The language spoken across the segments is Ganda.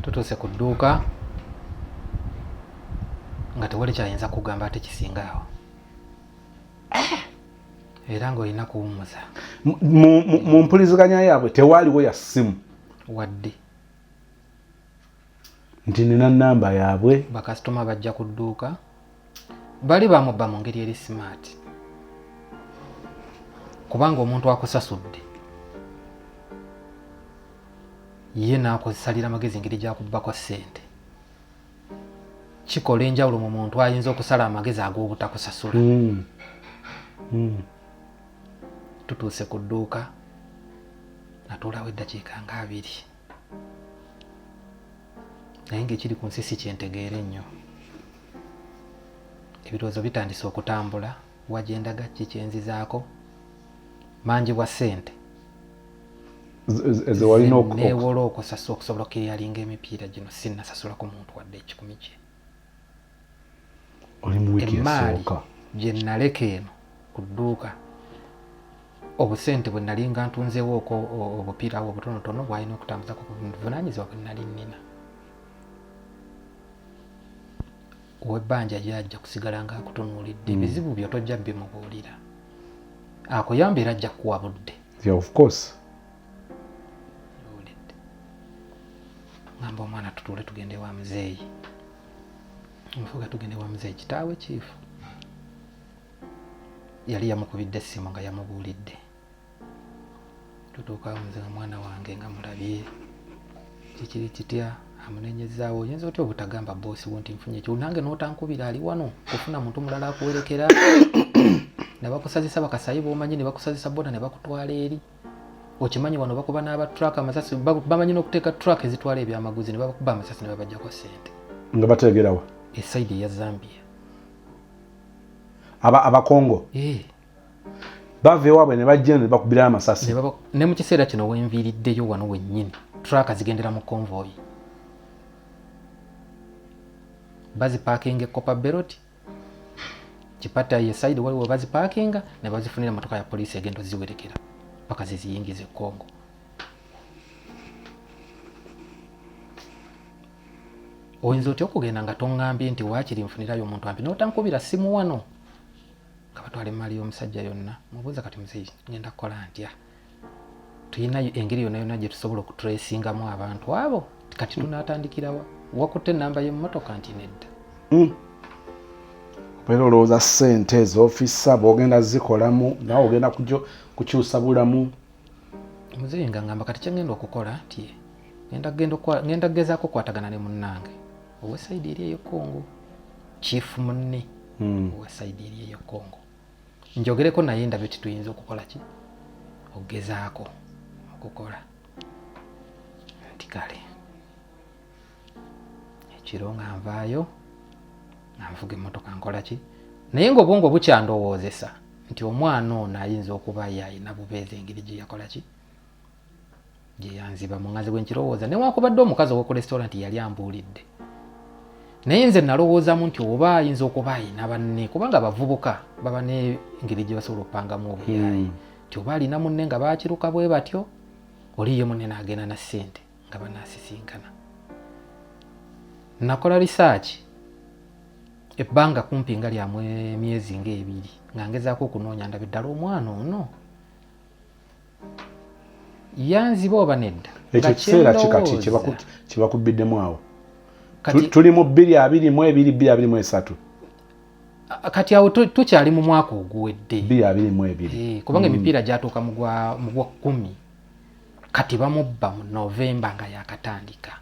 tutuuse ku dduuka nga tewali kyayinza kugamba ate kisinga awo eh! era ng'olina kuwummuza mu mpuliziganya yaabwe tewaaliwo ya ssimu wadde nti nina namba yaabwe bakasitoma bajja ku dduuka bali bamubba mu ngeri eri simaati kubanga omuntu akusasudde ye n'akusalira amagezi engeri gyakubbako ssente kikola enjawulo mu muntu ayinza okusala amagezi ag'obutakusasula mm. Mm. tutuuse ku dduuka natuulawo eddakiika nga abiri naye ngaekiri ku nsi si kyentegeere nnyo ebirowoozo bitandise okutambula wajendaga kikyenzizaako mangi bwa ssente newola okusasa okusobola okuyalinga emipiira gino sinasasula ku muntu wadde ekikumi kye emmaali gye nnaleka eno ku dduuka obusente bwe nali nga ntunzeewo oko obupiira awo obutonotono bwalina okutambuza ku buvunaanyizibwa bwe nali nnina ow'ebbanja yajja kusigala nga akutunuulidde hmm. ebizibu byo tojja bimubuulira akuyamba era ajja kuwa budde ngamba omwana tutuule tugende wa muzeeyi nfuga tugende wa muzeeyi kitaawe kiifu yali yamukubidde essimu nga yamubuulidde tutuuka muze nga mwana wange nga mulabye kikiri kitya amunenyezaawo oyinza otya obutagamba boosi wo nti nfunye ekyo nange n'otankubira ali wano kufuna muntu mulala akuwerekera ne bakusazisa bakasayi b'omanyi ne bakusazisa bona ne bakutwala eri okimanyi wano bakuba n'aba truck amasasi bamanyi n'okuteeka truck ezitwala ebyamaguzi ne babakuba amasasi ne babajjako sente nga bateegerawa esaidi eya zambia aba abakongo eh. bava ewaabwe ne bajja ne bakubirayo amasasi ne mu kiseera kino wenviiriddeyo wano wennyini truck zigendera mu convoyi bazipaakinga ekopa beroti kipata ye side waliwo bazipakinga ne bazifunira motoka ya poliisi egenda oziwerekera paka ziziyingiza e Congo oyinza otya okugenda nga tongambye nti wakiri nfunirayo omuntu ampi notankubira simu wano kabatwala emaali y'omusajja yonna mubuuza kati muzeyi ngenda kukola ntya tulina engeri yona yona gyetusobola okuturesingamu abantu abo kati hmm. tunatandikirawa wakutte enamba yemumotoka nti nedda hmm. era olowooza sente ezofiisa bwogenda zikolamu nawe ogenda kukyusa bulamu muzeyi nga ngamba kati kyengenda okukola nti ngenda kugezaako okukwatagana ne munnange owesaidi eri eyo congo chief munne hmm. owesaidi eri eyo congo njogereko naye ndabe kituyinza okukola ki okugezaako okukola nti kale ekiro nga nvaayo nga nvuga emmotoka nkola ki naye ngaobwongo bukyandowoozesa nti omwana ono ayinza okuba ye alina bubeezi engeri gye yakola ki gyeyanziba muŋazi bwe nkirowooza newakubadde omukazi owoku restaurant yali ambuulidde naye nze nalowoozamu nti oba ayinza okuba ayina banne kubanga abavubuka baba nengeri gye basobola okupangamu obuyaayi hmm. nti oba alina munne nga bakiruka bwe batyo oli ye munne naagenda na ssente nga banaasisinkana nakola risaaki ebbanga kumpi nga lyamu emyezi ngaebiri nga ngezaako okunoonya ndabe ddala omwana ono yanziba oba nedda ekyo kiseera kikati kyebakubiddemu awo tuli mu bbiri abiri mu ebiri bbiri abiri mu esatu kati awo tukyali mu mwaka oguwedde bbiri abiri mu ebiri eh, kubanga mm. emipiira gyatuuka mu gwa kkumi kati bamubba mu novemba nga yakatandika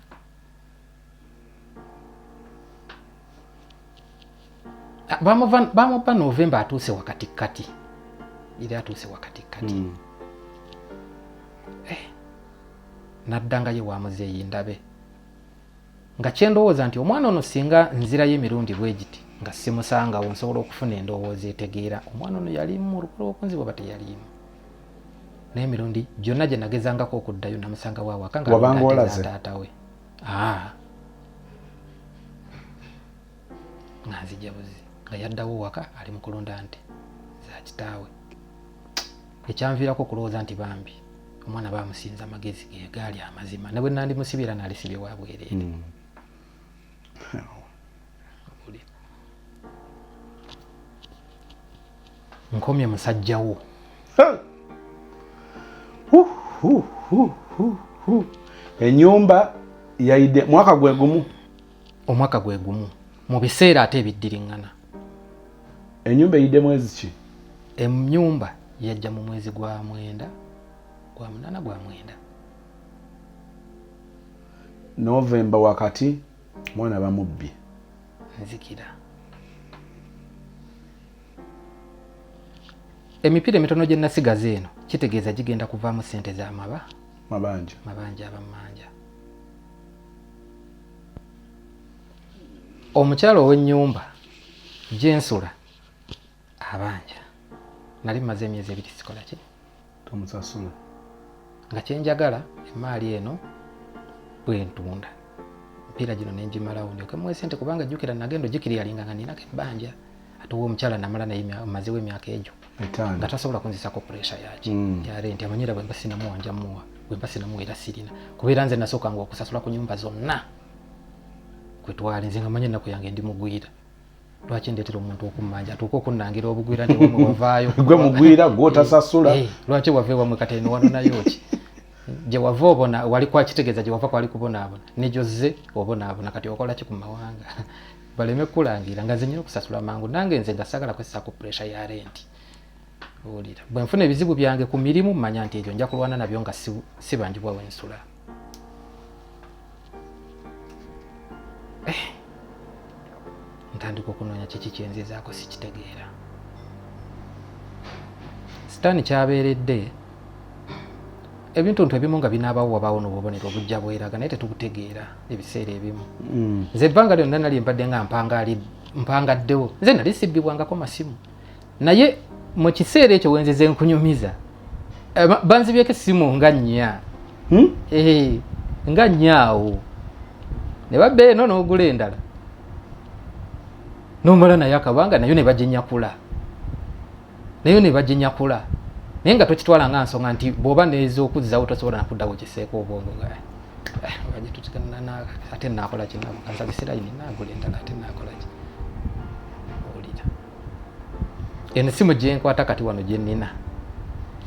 bamupa novemba atuuse wakatikkati era atuuse wakatikkati hmm. eh, naddangayo wa muzeeyi ndabe nga kyendowooza nti omwana ono singa nzirayo emirundi bwegiti nga simusangawo nsobola okufuna endowooza etegeera omwana ono yalimu mu lukulu okunzibwa ba teyalimu naye emirundi gyonna gye nagezangako okuddayo namusangawo awaka nga taata we Ah. nga nzija buzi nga yaddawo waka ali mu kulunda nti za kitaawe ekyanviirako okulowooza nti bambi omwana bamusinza amagezi gegaali amazima ne bwe nandi musibira nalisibye wabwereere mm. nkomye musajja wo enyumba yaide mwaka gwe gumu omwaka gwe gumu mu biseera ate ebiddiriŋŋana enyumba eyidde mwezi ki enyumba yajja mu mwezi gwa mwenda gwa munana gwa mwenda novemba wakati mwana bamubbye nzikira emipiira emitono gye nasigaza eno kitegeeza gigenda kuvaamu sente za maba mabanja mabanja abamanja omukyala ow'ennyumba gyensula abanja nali maze emyezi ebiri sikola ki tomusasula nga kyenjagala emaali eno bwentunda mpiira gino nenjimalawo ndyoke muwe sente kubanga jjukira nagenda ojikiriyalinga nga ninako ebbanja ate owa omukyala namala naye mazewo emyaka egyo nga tasobola kunzisako puresha yaki mm. yarenti amanyira bwemba sinamuwa njamuwa bwemba sinamuwa era sirina kubeera nze nasookanga okusasula ku nyumba zonna kwetwali nze nga manya ennaku yange ndi mugwira lwaki ndetera omuntu okummanja atuuke okunnangira obugwira newamwewavaayo gwe mugwira gwotasasula eh, eh, lwaki wava ewamwe kateni wanonayo ki gye wava obona wali kwakitegeeza gye wava kwali kubonaabona negyozze obonaabona kati okola ki ku mawanga baleme kukulangira nga zenyina okusasula mangu nange nze nga sagala kwesisa ku puresha ya renti owulira bwe nfuna ebizibu byange ku mirimu manya nti egyo nja kulwana nabyo nga sibanjibwa wensula Eh, ntandika okunoonya kiki kyenzizaako sikitegeera sitaani kyabeeredde ebintuntu ebimu nga binaabawo wabaawo n'obubonero obujja bweraga naye tetubutegeera ebiseera ebimu mm. nze ebbanga lyonna nali mbadde nga mpangaddewo nze nali sibbibwangako masimu naye mu kiseera ekyo wenzize nkunyumiza eh, banzibyeko essimu nga nnya hmm? eh, nga nnya awo ne babba eno n'ogula endala nomala naye akabanga nayo ne baginyakula nayo ne baginyakula naye nga tokitwala nga nsonga nti bwoba neeza okuzzawo tosobola nakuddawo kiseeko obwongo nga eh, ate nakola kinamukansabisirayini nagula endala ate nakola ki owulira ensimu gyenkwata kati wano gyenina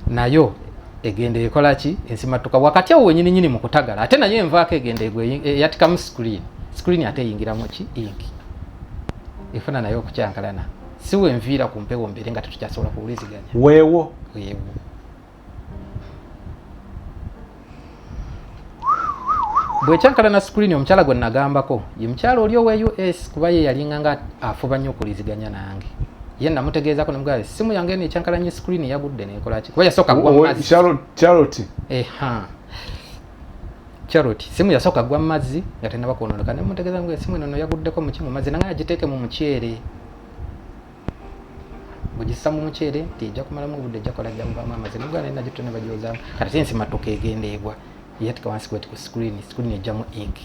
nayo egenda ekola ki ensimattuka wakati awo wenyini nyini mukutagala ate nayo envaako egenda eyatikamu screen screen ate eyingiramu ki inki efuna nayo okukyankalana siwe nviira ku mpewo mbeere nga tetukyasobola kuwuliziganya weewo weewo bwekyankalana screen omukyala gwe nagambako ye mukyala oli owa us kuba ye yalinga nga afuba nnyo okuliziganya nange ye namutegeezako nemugamba esimu yange eno ekyankalanye screen yagudde nekolaki kuba yasooka gwamazzi eha charity simu yasooka gwa mazzi nga tenaba kwonooneka nemutegeeza nga esimu eno no yaguddeko muki mu mazzi nanga agiteeke mu muceere bugissa mu muceere nti ejja kumalamu obudde ejja kola jja muvaamu amazi nogwa naye nagitto ne bagyozaamu kati si nsimattuka egenda egwa yatika wansi kweti ku screen screen ejjamu ink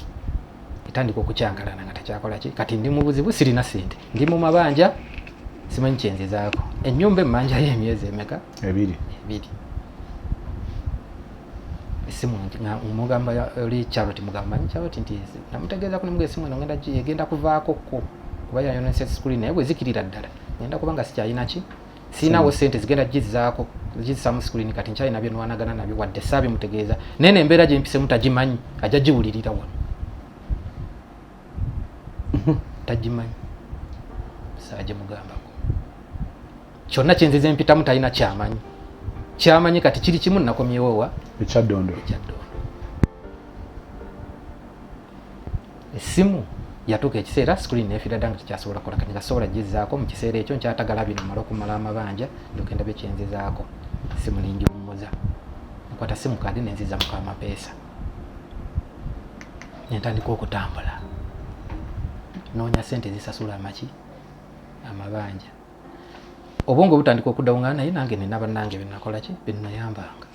etandika okucankalana nga tekyakola ki kati ndi mu buzibu sirina sente ndi mu mabanja simanyi kyenzizaako ennyumba emmanjayo emyezi emeka ebiri ebiri esimu mugamba oli charity mugamba manyi charity nti namutegeeza ku nemugee esimu eno ngenda egenda kuvaako ko kuba yayonesa screen naye bwezikirira ddala ngenda kuba nga sikyalina ki sirinawo sente zigenda gizaako gizisamu screen kati nkyalina byenwanagana nabyo wadde saabi mutegeeza naye nembeera gyempisemu tagimanyi ajja giwulirira wano tagimanyi saaje mugambako kyonna kyenzize mpitamu talina kyamanyi kyamanyi kati kiri kimu nakomyewowa ekyaddondo esimu yatuuka ekiseera screen nefira dda nga tekyasobola kukola kati ngasobola gizaako mu kiseera ekyo nkyatagala bino mala okumala amabanja ndokenda byo kyenzizaako simu ningiwummuza nkwata simu kaadi nenziza muko amapeesa nentandika okutambula noonya sente ezisasula amaki amabanja obwongo butandika okuddawo nga naye nange nina bannange benakolaki benayambanga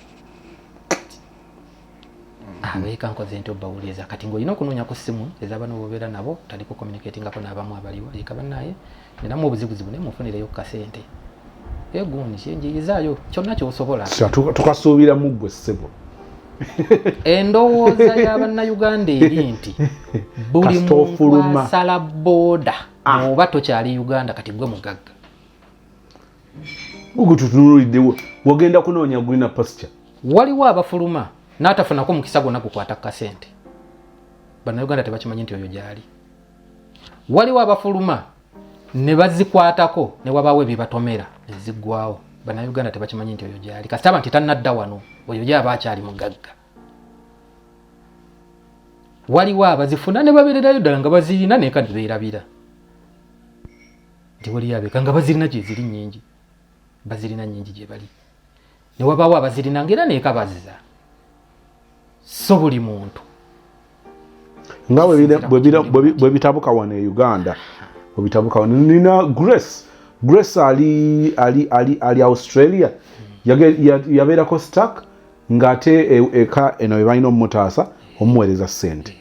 abeeka ah, nkoze nti obawuliriza kati ngaolina okunoonya ku ssimu ezabana obabeera nabo tandika okomunikatingako n'abamu abaliwo eka banaye ninamu obuzibuzibu naye munfunireyo ku kasente egundi kyenjiyizaayo kyonna kyosobola tukasuubira mu ggwe ssebo endowooza ya bannayuganda eri nti buli muntu asala booda ah. oba tokyali uganda kati gwe mugagga ogututunuliddewo wagenda kunoonya gulina pasture waliwo abafuluma n'atafunako mukisa gwonna gukwata ku kasente bannayuganda tebakimanyi nti oyo gyali waliwo abafuluma ne bazikwatako ne wabaawo ebyebatomera neziggwawo bannayuganda tebakimanyi nti oyo gyali kasitaba nti tannadda wano oyo gyaba akyali mugagga waliwo abazifuna ne babeererayo ddala nga bazirina naye kati beerabira nti waliyo abeeka nga bazirina gyeziri nyingi bazirina nyingi gye bali ne wabaawo abazirina nga era neeka baziza so buli muntu nga bwe bitabuka wano e uganda bwebitabuka wano nina grace grace ali ali ali ali australia yabeerako stack ngaate e, eka eno bebalina omumutaasa omuweereza sente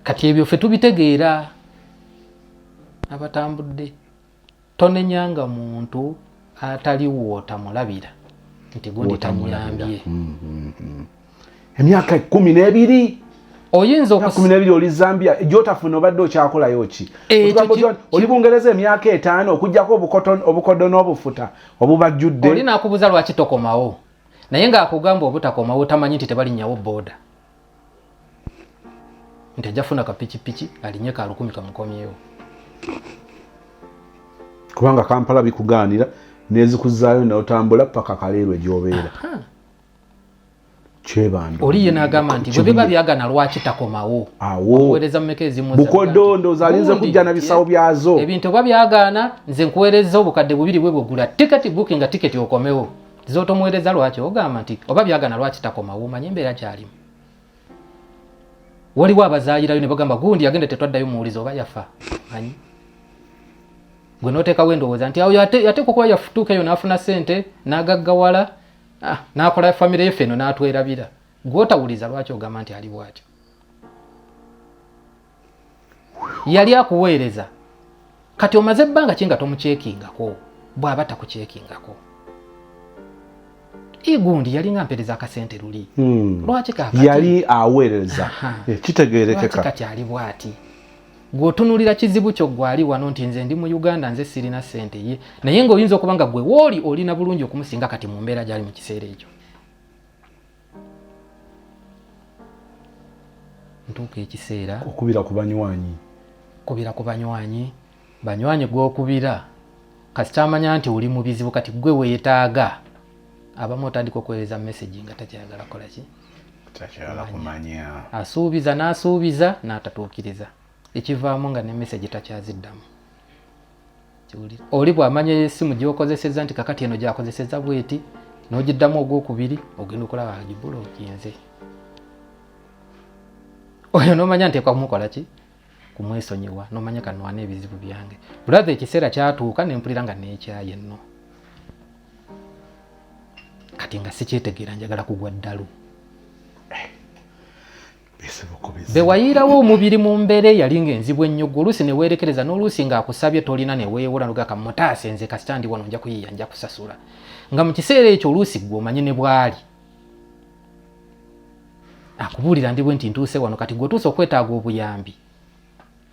kati ebyo fe tubitegeera abatambudde tonenyanga muntu atali wootamulabira nti gundi tanyambye mm, mm, mm. emyaka kumi n'ebiri oyinza okumi n'ebiri oli zambia gyotafuna obadde okyakolayo ki oli bungereza emyaka etaano okujjako obukodo n'obufuta obubajjudde oli nakubuza lwaki tokomawo naye ng'akugamba obutakomawo tamanyi nti tebalinnyawo booda nti ajja funa kapikipiki alinye ka lukumi kamukomyewo kubanga kampala bikugaanira nezikuzaayo naotambula paka kaleerwe gyobeera kyebando oli ye nagamba nti bwe biba byagana lwaki takomawo awowereza mumeka ezimubukodondo zalinze kujja na bisawo byazo ebintu oba byagaana nze nkuwereza obukadde bubiri bwe bwegula tiketi bukinga tiketi okomewo zotomuwereza lwaki ogamba nti oba byagana lwaki takoma wumanye embeera gyalimu waliwo abazayirayo ne bagamba gundi yagenda tetwaddayo muwuliza oba yafa manyi gwe noteekawo endowooza nti awo yateekwa okuba yafutuuka eyo n'afuna sente n'agaggawala ah, n'akola famire ye feno n'atwerabira gwotawuliza lwaki ogamba nti ali bwatyo yali akuweereza kati omaze ebbanga ki nga tomukyekingako bw'aba takukyekingako igundi yali nga mpereza akasente luli hmm. lwaki kakati yali aweereza eh, kitegeerekeka kati ali bwati gwotunulira kizibu kyo gwali wano nti nze ndi mu uganda nze sirina sente ye naye ngaoyinza okuba nga gwe wooli olina bulungi okumusinga kati mu mbeera gyali mu kiseera ekyo ntuuka ekiseera okubira ku banywanyi kubira ku banywanyi banywanyi gwokubira kasita amanya nti oli mu bizibu kati gwe weetaaga abamu otandika okuweereza mesagi nga takyayagala kola ki asuubiza n'asuubiza n'atatuukiriza ekivaamu nga ne mesagi takyaziddamu oli bwamanya esimu gyokozeseza nti kakati eno gyakozeseza bweti nogiddamu ogwokubiri ogenda okulaba agibula okinze oyo nomanya ntekwa kumukola ki kumwesonyiwa nomanya kanwana ebizibu byange bulathe ekiseera kyatuuka nempulira nga nekyaye nno kati nga sikyetegeera njagala kugwa ddalu bewayiirawo omubiri mu mbeera eyali nga enzibu ennyo gwe oluusi neweerekereza n'oluusi ng'akusabye tolina neweewola nogaka mutaase nze kasita ndi wano nja kuyiiya nja kusasula nga mu kiseera ekyo oluusi gwe omanye ne bwali akubuulira ndibwe nti ntuuse wano kati gwe otuuse okwetaaga obuyambi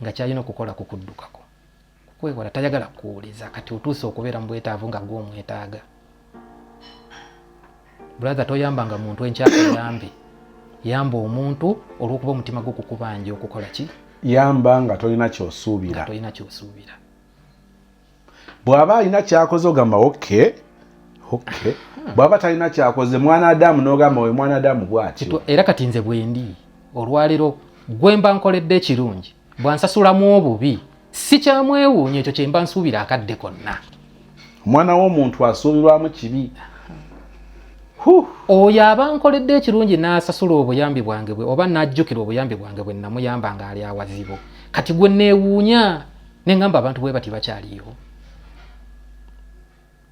nga kyalina okukola ku kuddukako kukwewola tayagala kuwuliza kati otuuse okubeera mu bwetaavu nga gwe omwetaaga brathe toyambanga muntu enkyaka yambi yamba omuntu olwokuba omutima gwo kukubanja okukola ki yamba nga tolina kyosuubira tolina kyosuubira bw'aba alina kyakoze ogamba oke oke bw'aba talina kyakoze mwana adamu n'ogamba oyo mwana adamu bwatyo era kati nze bwendi olwaliro gwemba nkoledde ekirungi bwansasulamu obubi sikyamwewuunya ekyo kyemba nsuubira akadde konna omwana w'omuntu asuubirwamu kibi oyo aba nkoledde ekirungi n'asasula obuyambi bwange bwe oba n'ajjukira obuyambi bwange bwe namuyamba ng'ali awazibu kati gwe neewuunya ne ngamba abantu bwe bati bakyaliyo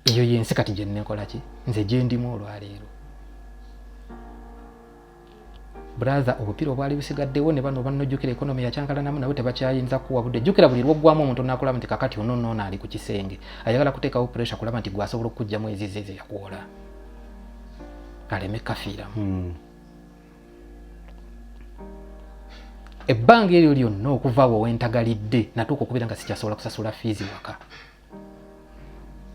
eyo yensi kati gyenekolaki nze gyendimu olwaleero brother obupiira obwali busigaddewo ne bano banojjukira ekonomi yakyankalanamu nawe tebakyayinza kuwa budde jjukira buli lwoggwamu omuntu onakulaba nti kakati ono noono ali ku kisenge ayagala kuteekawo pressure kulaba nti gwasobola okukugjamu ezize ze yakuwola aleme kafiiramu hmm. ebbanga eryo lyonna okuva awo wentagalidde natuuka okubeera nga sikyasobola kusasula fiizi waka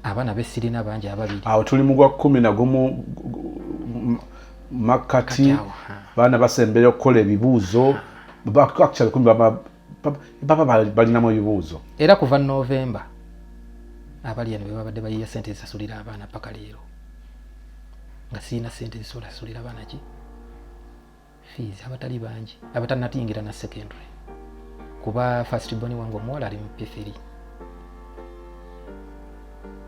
abaana besirina bangi ababiri awo tuli mu gwa kumi nagumu makkati baana basembera okukola ebibuuzo actually kumi baba balinamu ebibuuzo era kuva novemba abali eno bebabadde bayiya sente zisasulira abaana paka leero nga sirina sente zisulasulira abaana ki fees abatali bangi abatanatiyingira na secondary kuba first born wange omuwala ali mu p3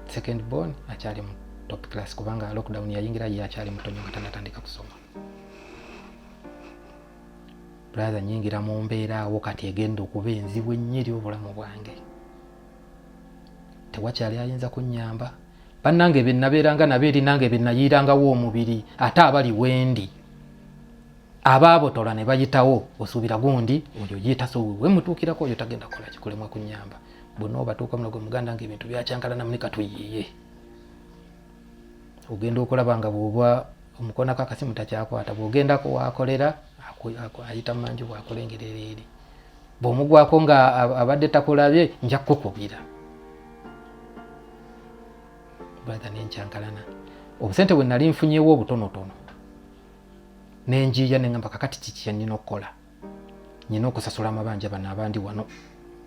second born akyali mu top class kubanga lockdown yayingira ye akyali mutonyo nga tanatandika kusoma brother nyingira mu mbeera awo kati egenda okuba enzibu ennyo eri obulamu bwange tewakyali ayinza kunyamba bannange bye nabeeranga nabo eri nange bye nayiirangawo omubiri ate abali wendi abaabotola ne bayitawo osuubira gundi oyo yeetaso we mutuukirako oyo tagenda kukola kikulemwa kunyamba bonna obatuuka muno gwe muganda nga ebintu byakyankalanamu ne katuyiiye ogenda okulaba nga bwoba omukonako akasimu takyakwata bwogendako wakolera ayita manju wakola engeri ereeri bw'omugwako nga abadde takulabye nja kukukubira brother nenkyankalana obusente bwe nali nfunyewo obutonotono nenjiiya nengamba kakati kiki yanyina okukola nyina okusasula amabanja bano abandi wano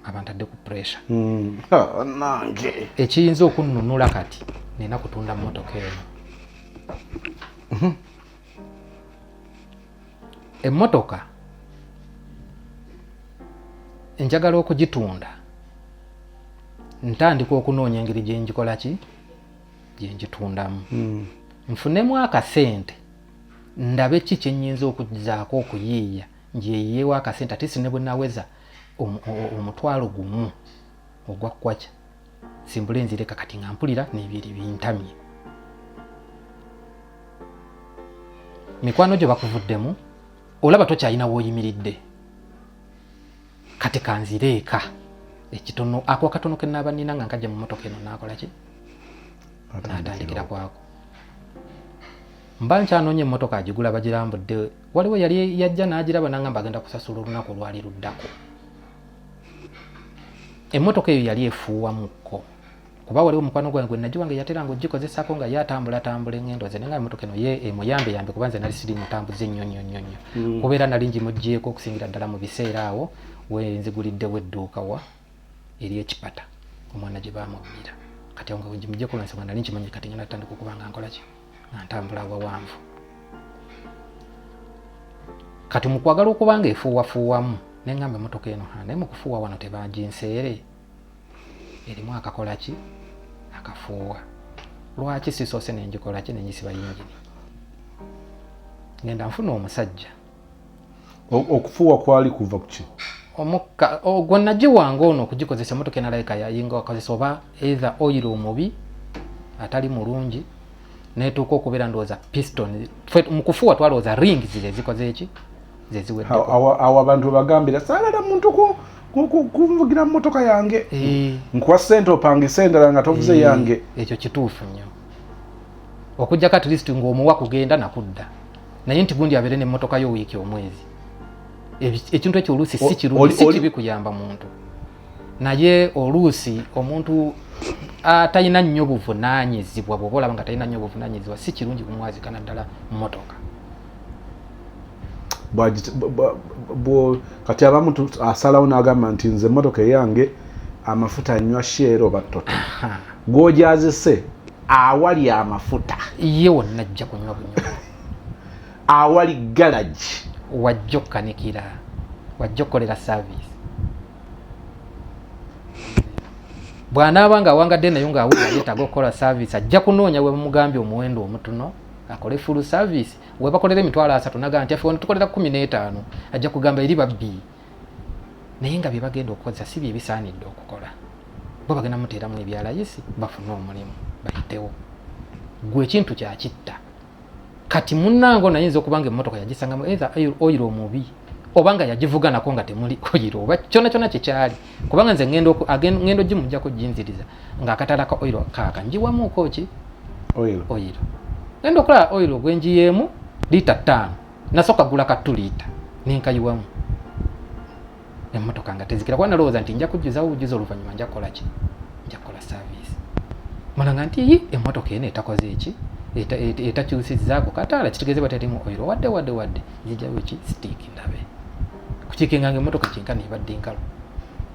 abantadde ku pressure hmm. ah, nange ekiyinza okunnunula kati nina kutunda motoka eno mhm. emmotoka enjagala okugitunda ntandika okunoonya engeri gyengikola ki gyengitundamu hmm. nfunemu akasente ndabe ki kyenyinza okuzaako okuyiiya njeyiyewo akasente ate sine bwenaweza omutwalo gumu ogwa kwacha simbule nzireka kati nga mpulira nebiri bintamye mikwano gyo bakuvuddemu olaba tokyalina woyimiridde kati kanzire eka ekitono ako akatono kenaaba nina nga nkajja mu motoka eno nakolaki natandikira kwako mba nkyanoonya emotoka agigula bagirambudde waliwo yali yajja nagiraba nangamba agenda kusasula olunaku olwali luddako emmotoka eyo yali efuuwamukko kuba waliwo mukwano gwange gwe nagiwa nga yatera nga ogikozesako nga ye atambula atambula engendo ze nenga emotoka eno ye emuyambe yambe kuba nze nali siri mutambuzi ennyo nnyo nnyo nnyo mm. kubeera nali ngimugyeko okusingira ddala mu biseera awo wenziguliddewo edduuka wa eri ekipata omwana gye bamubbira kati awo nga wengimugyeko lwansonga nali nkimanyi kati ngenda tutandika okuba nga nkola kino nga ntambula awawanvu kati mukwagala okuba nga efuuwafuuwamu nengamba emotoka eno ha naye mukufuuwa wano tebaginseere erimu akakola ki akafuuwa lwaki sisoose nengikolaki nenjisiba yingini ngenda nfuna omusajja okufuuwa kwali kuva kuki omukka ogwo nagiwanga ono okugikozesa emotoka enalabika yayinga wakozesa oba either oyiro omubi atali mulungi netuuka okubeera ndowooza piston mu kufuuwa twalowooza ring zire zikoze eki zeziweawo abantu webagambira salala muntu kunvugira mumotoka yange eh. nkuwa sente opangisa endala nga tovuze eh, yange ekyo kituufu nnyo okujjako at least ngaomuwa kugenda nakudda naye nti gundi abeere nemmotoka yo wiiki omwezi ekintu ekyo oluusi si kirungi si kibi kuyamba muntu naye oluusi omuntu atalina nnyo buvunanyizibwa bwoba olaba nga talina nnyo buvunanyizibwa si kirungi kumwazika naddala mmotoka kati abamu asalawo nagamba nti nze emmotoka eyange amafuta nywa sheero battoto gwojazise awali amafuta ye wonna ajja kunywa bunywa awali galagi wajja okukanikira wajja okukolera saavisi bw'anaaba nga awangadde nayo ng'awulira yeetaaga okukola saavisi ajja kunoonya we bamugambye omuwendo omutuno akole fulu saavisi we bakolera emitwalo asatu naga nti afe wano tukolera kumi n'etaano ajja kugamba eri babbi naye nga bye bagenda okukozesa si bye bisaanidde okukola bo bagenda muteeramu ebyalayisi bafune omulimu bayitewo gwe ekintu kyakitta kati munange ono ayinza okuba nga emmotoka yagisangamu either oyiro omubi oba nga yagivuganako nga temuli oyiro oba kyona kyona kyekyali kubanga nze ngenda ogimujjako ginziriza ngaakatala ka oyiro kaaka njiwamuuko ki oyiro ngenda okulaba oyiro gwenjiyeemu liita ttaano nasoka gula ka tulita nenkayiwamu emotoka nga tezikira kuba nalowooza nti nja kujjuzawo bujuzi oluvannyuma nja kukola ki nja kukola service mulanga nti yi emotoka eno etakoze eki etakyusizaako kataala kitegeze baterimu oiro wadde wadde wadde nzijawo ki sitiiki ndabe kukikenga nga emotoka kyenkana ebadde nkalu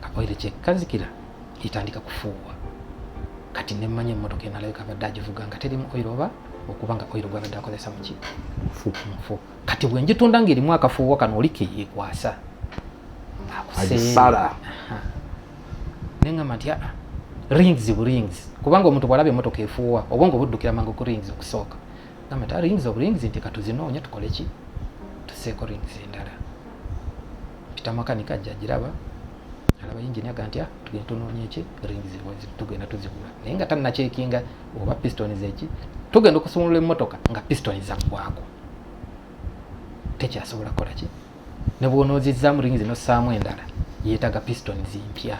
kapoire kyekazikira etandika kufuuwa kati nemmanyi emmotoka enalabika abadde agivuga nga terimu oil oba okuba nga oil gwabadde akozesa muki mufu kati bwenjitunda nga erimu akafuuwa kano oli keyekwasa akusala nengamba nti aa rings bu rings kubanga omuntu bwalaba emotoka efuuwa obwongo buddukira mangu ku rings okusooka Namwe ta rings of rings nti katuzinoonya tukole ki? Tuseeko rings endala. Pita makanika ajja agiraba. Alaba yingini aga nti ah, tugenda tunoonya eki rings tugenda tuzigula. Naye nga tannakyekinga oba piston zeki tugenda okusumulula emmotoka nga piston zaggwako. Tekyasobola kukola ki? Ne bw'onoozizzaamu rings n'ossaamu endala yeetaaga piston zimpya.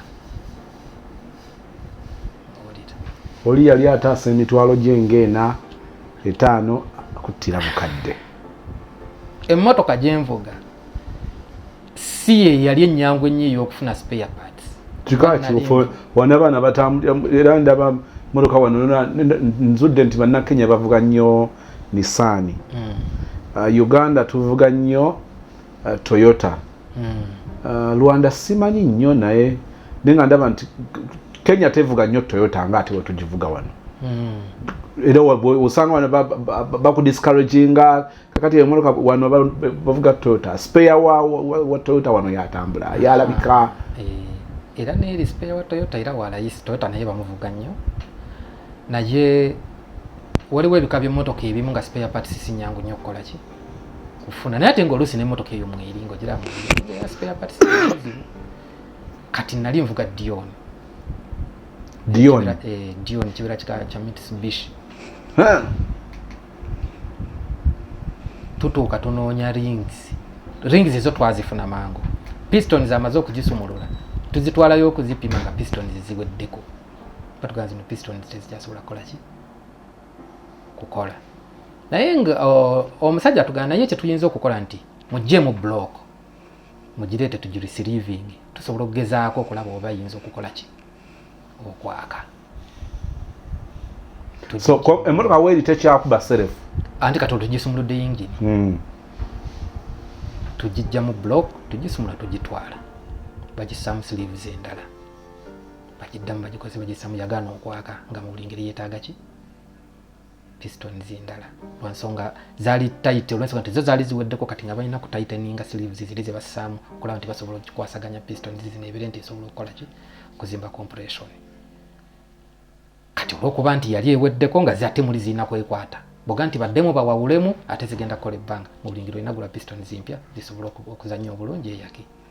oli yali ataasa emitwalo gyengaena etaano kuttira bukadde emmotoka gyenvuga si ye yali ennyangu ennyo ey'okufuna spare parts kikakiufu wana abaana batambulira era ndaba motoka wano nzudde nti bannakenya bavuga nnyo nisaani hmm. uh, uganda tuvuga nnyo uh, toyota mm. uh, rwanda simanyi nnyo naye naye nga ndaba nti kenya tevuga nnyo toyota nga ate wetugivuga wano mm. era osanga wano bakudiscouraginga kakati emotoka wano bavuga toyota spare wa, wa, wa toyota wano yatambula ah, yalabika ah, eh. era neeri spare wa toyota era walayisi toyota naye bamuvuga nnyo naye waliwo ebika by'emmotoka ebimu nga spare parts sinyangu nnyo okukola ki kufuna naye ate ngaoluusi nemotoka eyo mweri ngaogiramu spare parts kati nali nvuga dion dion eh, dion kibera kika kya mitsubishi tutuuka tunoonya rings rings ezo twazifuna mangu pistons amaze okugisumulula tuzitwalayo okuzipima nga pistons ziweddeko batugaa zino pistons tezijasobola kukola ki kukola naye nga omusajja atugana naye kyetuyinza okukola nti mujje mu block mugireete tugirisiriving tusobola okugezaako okulaba oba yinza okukola ki okwaka so emotoka weeri tekyakuba serefu anti kati otugisumuludde yingini hmm. tugijja mu block tugisumula tugitwala bagissamu siriivu z'endala bagiddamu bagikoze bagisamu yagaana okwaka nga mubuli ngeri yetaaga ki pistons endala lwansonga zaali tight olwensonga nti zo zaali ziweddeko kati nga balina ku tighteninga sleeves ziri ze bassaamu okulaba nti basobola okukikwasaganya pistons zino ebire nti esobola okukola ki okuzimba compression kati olwokuba nti yali eweddeko nga zate muli zirina kwekwata boga nti baddemu bawawulemu ate zigenda kukola ebbanga mubuli ngeri olina gula pistons mpya zisobola okuzannya obulungi eyake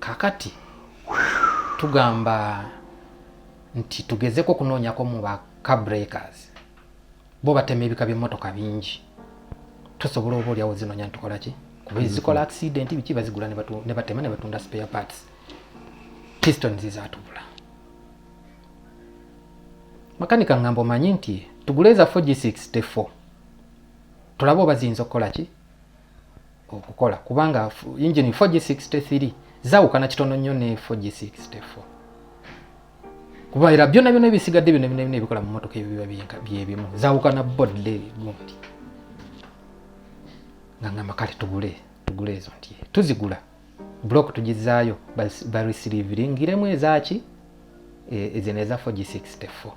kakati tugamba nti tugezeko okunoonyako mu ba cabreakers bo batema ebika by'emmotoka bingi tusobola oba olyawo zinoonya nitukola ki kuba ezikola mm-hmm. accident biki bazigula ne batema ne batunda spare parts piston zizatubula makanika ngamba omanyi nti tugule eza 4 g64 tulabe oba ziyinza okukola ki okukola kubanga engine 4G63 zawukana kitono nnyo ne 4G64 kuba era byonna byonna ebisigadde byonna byonna ebikola mu motoka ebiba byebimu zawukana bodde gundi nga ngamba kale tugule tugule ezo nti tuzigula block tugizaayo barisiliviringiremu ezaki e, ezino eza 4G64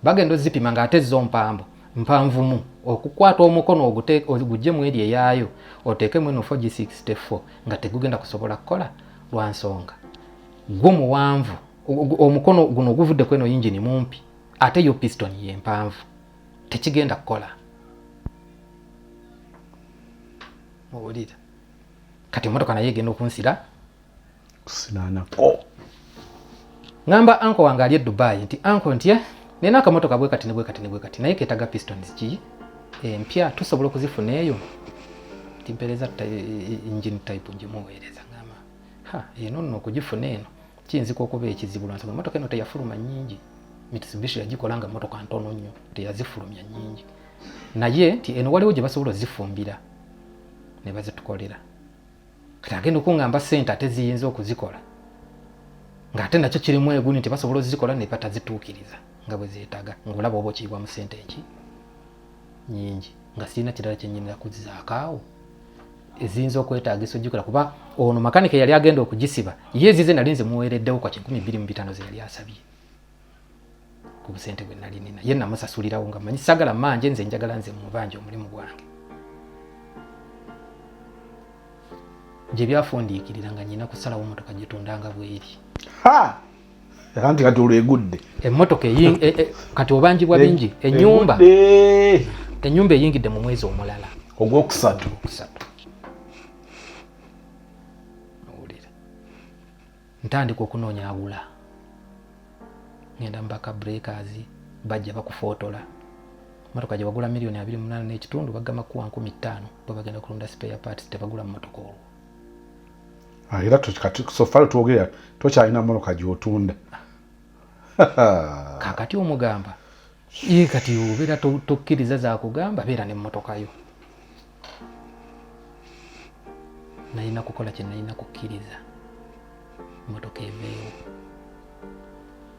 bagenda ozipima nga ate zo mpambo mpanvumu okukwata omukono ogujje mu eri eyaayo oteekemu eno 4g64 nga tegugenda kusobola kukola lwa nsonga gwo muwanvu omukono guno oguvudde kweno yingini mumpi ate yo piston yempanvu tekigenda kukola muwulira kati emotoka naye egenda okunsira kusinaanako ŋamba anko wange ali e dubayi nti anko nti eh, nina akamotoka bwe kati ne bwe kati ne bwe kati naye keetaga pistons ki empya eh, tusobola okuzifuna eyo nti mpeereza engine type ngimuweereza ŋamba ha eno nno okugifuna eno kiyinzika okuba ekizibu lwansonga emotoka eno teyafuluma nyingi mitsubishi yagikola nga motoka ntono nnyo teyazifulumya nyingi naye nti eno waliwo gye basobola ozifumbira ne bazitukolera kati agenda okungamba sente ate ziyinza okuzikola ng'ate nakyo kirimu eguni nti basobola ozikola ne batazituukiriza nga bwe zeetaga ng'olaba oba okiyibwa mu sente eki nyingi nga sirina kirala kyenyinira kuzizaakaawo eziyinza okwetaagisa ojjukira kuba ono makanika eyali agenda okugisiba ye ezize nali nze muweereddewo kwa kikumi bbiri mu bitaano ze yali asabye ku busente bwe nali nina ye namusasulirawo nga manyi sagala manje nze njagala nze mubanja omulimu gwange gye byafundiikirira nga nyina kusalawo motoka gitundanga bweri anti kati olwegudde emotoka e, e, kati obanjibwa bingi e, enyumba enyumba eyingidde mu mwezi omulala ogwokusatu ntandika okunoonya agula ngenda mubaka breakers bajja bakufootola motoka gye wagula miliyoni abiri munaana n'ekitundu bagamba kuwa nkumi ttaano bwe bagenda kulunda spare parts tebagula mu motoka olwo ah, era sofala twogera tokyalina motoka gyotunda kakati omugamba ye kati obeera tokkiriza zakugamba beera ne motoka yo nalina kukola kye nalina kukkiriza motoka eveewo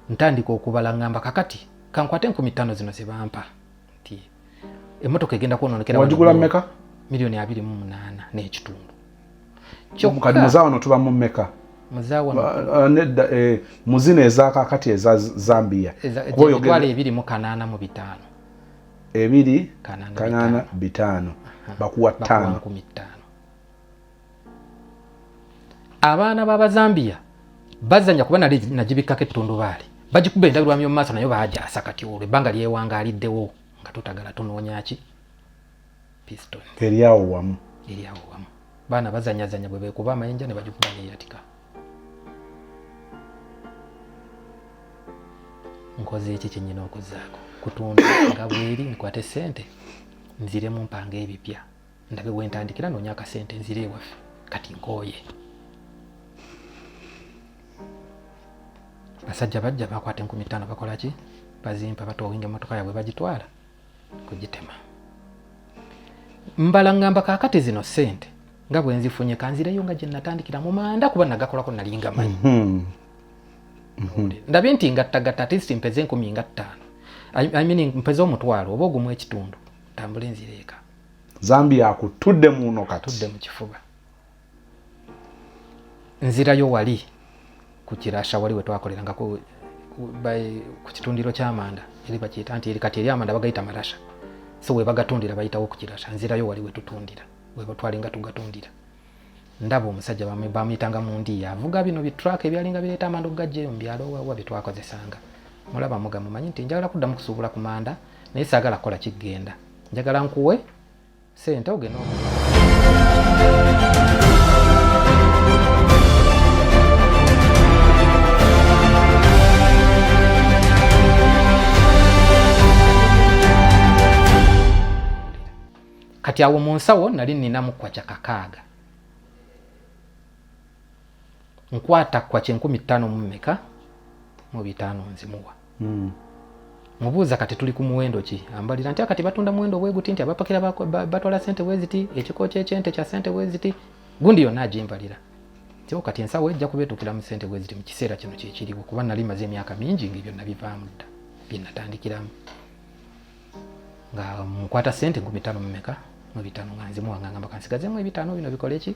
ntandika okubala ngamba kakati kankwate enkumi ttaano zino zebampa nti emotoka egenda kwononekera wagigula meka miliyoni abiri mu munaana n'ekitundu kyokkati muzawano tuba mu meka Uh, nedda eh, muzina ezakakati eza zambia emitwalo ebiri mu kanaana mu bitaano ebiri kanaana bitaano bakuwa ttaano abaana b'abazambiya bazanya kuba nali nagibikkako ettundubaali bagikuba endabirwamu yomu maaso nayo bagyasa kati olwo ebbanga lyewangaliddewo nga tutagala tunoonyaki piston eryawo wamu eryawo wamu baana bazanyazanya bwe bekuba amayinja ne bagikuba neyatika nkoze eki kyenyina okuzaako kutunda nga bweri nkwate sente nzire mu mpanga ebipya ndabe wentandikira nonya akasente nzire ewaffe kati nkooye basajja bajja bakwata enkumi ttaano bakola ki bazimpa batoowinga emotoka yabwe bagitwala kugitema mbala ngamba kakati zino sente nga bwenzifunye kanzireyo nga gyenatandikira mu manda kuba nagakolako nali nga manyi mhm. Mhm. ndabye nti ngattagatta atist mpeze enkumi nga ttaano I mean mpeze omutwalo oba ogumu ekitundu tambule nzireeka zambi yakutudde muno kati tudde mu kifuba nzirayo wali ku kirasha wali wetwakoleranga ku kitundiro kyamanda eri bakiyita nti eri kati eri amanda bagayita marasha so webagatundira bayitawo ku kirasha nzirayo wali wetutundira webatwalinga tugatundira ndaba omusajja bamuyitanga mu ndiya avuga bino bitraka ebyalinga bireeta amanda okugajjaeyo mu byalo wawa byetwakozesanga mulaba muga mumanyi nti njagala kuddamu kusuubula ku manda naye saagala kukola kiggenda njagala nkuwe sente ogenda kati awo mu nsawo nali ninamu kwacha kakaaga nkwata kwacha enkumi ttaano mu mmeka mu bitaano nzimuwa mm. mubuuza kati tuli ku muwendo ki ambalira nti akati batunda muwendo bweguti nti abapakira batwala sente weziti ekiko kyekyente kya sente weziti gundi yonna agimbalira tio kati ensawo ejja kuba etuukira mu sente weziti mu kiseera kino kyekiriwo kuba nali maze emyaka mingi nga ebyo nabivaamu dda byenatandikiramu nga mukwata sente nkumi ttaano mumeka mu bitaano nga nzimuwangangamba kansigazemu ebitaano bino bikole ki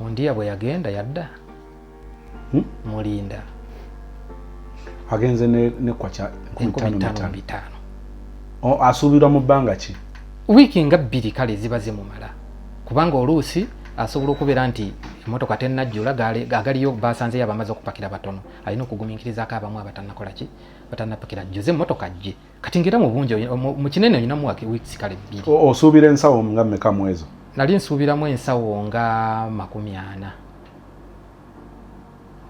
mundiya bwe yagenda yadda hmm? mulinda agenze nekwa bitaano asuubirwa mu bbanga ki wiiki nga bbiri kale ziba zimumala kubanga oluusi asobola okubeera nti emotoka tenajjula agaliyo basanzeyo abamaze okupakira batono alina okuguminkirizaako abamu abatanakola ki batanapakira jjuze emotoka jje kati ngera mu bungi mu kinene olina mu wake weeks kale bbiri osuubira ensawo nga mmeka mu ezo nali nsuubiramu ensawo nga makumi ana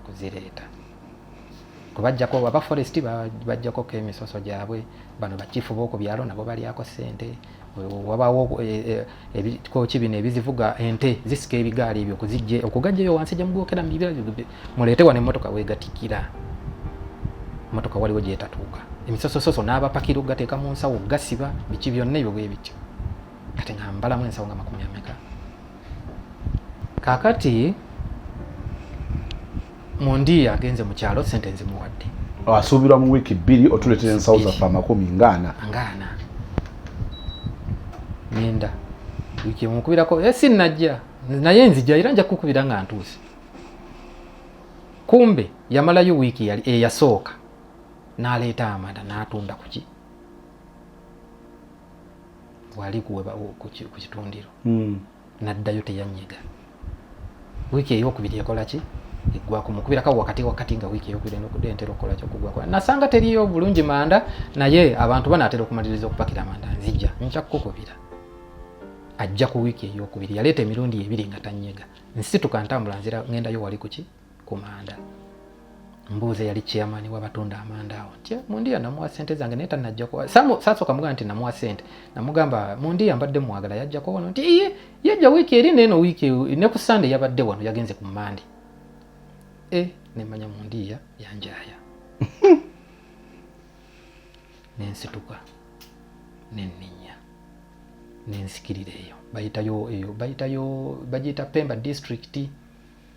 okuzireeta kubajjako aba forest bajjakoko emisoso gyabwe bano bakifu boku byalo nabo balyako sente wabaawo eh, eh, ebikoki bino ebizivuga ente zisika ebigaali ebyo okuzijje okugajjayo wansi gyemugokera mubibira muleete wano emmotoka wegatikira emmotoka waliwo gyetatuuka emisosososo n'abapakira okugateeka mu nsawo gasiba biki byonna ebyo bwe bityo kati nga mbalamu ensawo nga makumi ameka kakati mundi agenze mu kyalo sente nzimuwadde oh, asuubirwa mu wiiki bbiri otuleetera ensawo zaffe amakumi ngaana ngaana nenda wiiki emukubirako eh, si najja naye nzija era nja kukubira nga ntuuse kumbe yamalayo wiiki eyasooka eh, n'aleeta amanda n'atunda kuki wali ku kitundiro hmm. naddayo teyanyega wiiki eyokubiri ekolaki eggwako mukubiraka wakati wakati nga wiiki eyokubiri nokudda entera okukolaki okugwako nasanga teriyo bulungi manda naye abantu banaatera okumaliriza okupakira manda nzija nja kukukubira ajja ku wiiki eyokubiri yaleeta emirundi ebiri nga tanyega nsituka ntambula nzira ngendayo wali kuki ku manda mbuuza yali chairman wabatunda amanda awo nti eh, mundiya namuwa sente zange naye tanajja kuwa sasooka mugamba nti namuwa sente namugamba mundiya mbadde mwagala yajjako wano nti iye yajja wiiki eri neeno wiiki ne ku sande yabadde wano yagenze ku mande e eh, nemanya mundiya yanjaya nensituka nenninya nensikirira eyo bayitayo eyo bayitayo bagiyita pemba district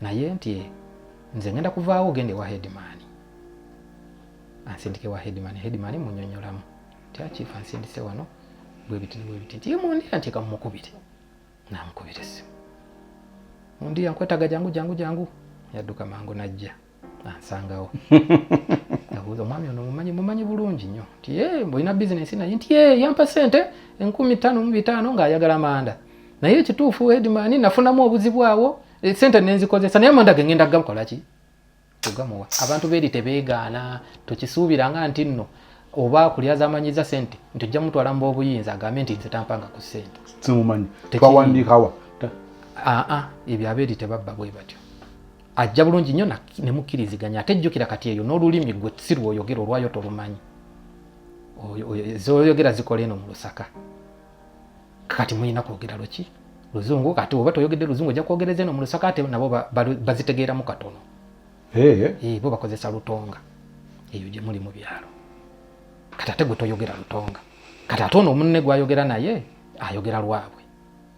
naye nti nze ngenda kuvaawo ogenda ewa headman ansindike wa headman headman munyonyolamu ti akiifu ansindise wano bwebiti bwebiti nti yemundira nti kamumukubire namukubira esimu mundira nkwetaga jangu jangu jangu yadduka mangu najja ansangawo abuuza omwami ono mumanyi mumanyi bulungi nnyo nti e mbulina bizinesi naye nti e yampa sente enkumi ttaano mu bitaano ng'ayagala manda naye ekituufu edimani nafunamu obuzibu awo eh, sente nenzikozesa naye amanda gengenda gakolaki kugamuwa abantu beeri tebeegaana tukisuubiranga nti nno oba kulya zamanyiza sente nti ojja mutwala mu obuyinza agambe nti nze tampanga ku sente simumanyi twawandiikawa aa ebyo abeeri tebabba bwe batyo ajja bulungi nnyo ne mukkiriziganya ate jjukira kati eyo n'olulimi gwe si lwoyogera olwayo tolumanyi zoyogera zikola eno mu lusaka kati mulina kwogera luki luzungu kati oba toyogedde luzungu ojja kwogereza eno mu lusaka ate nabo bazitegeeramu katono eh. Eh, bo bakozesa lutonga eyo gye muli mu byalo kati ate gwe toyogera lutonga kati ate ono omunne gwayogera naye ayogera lwabwe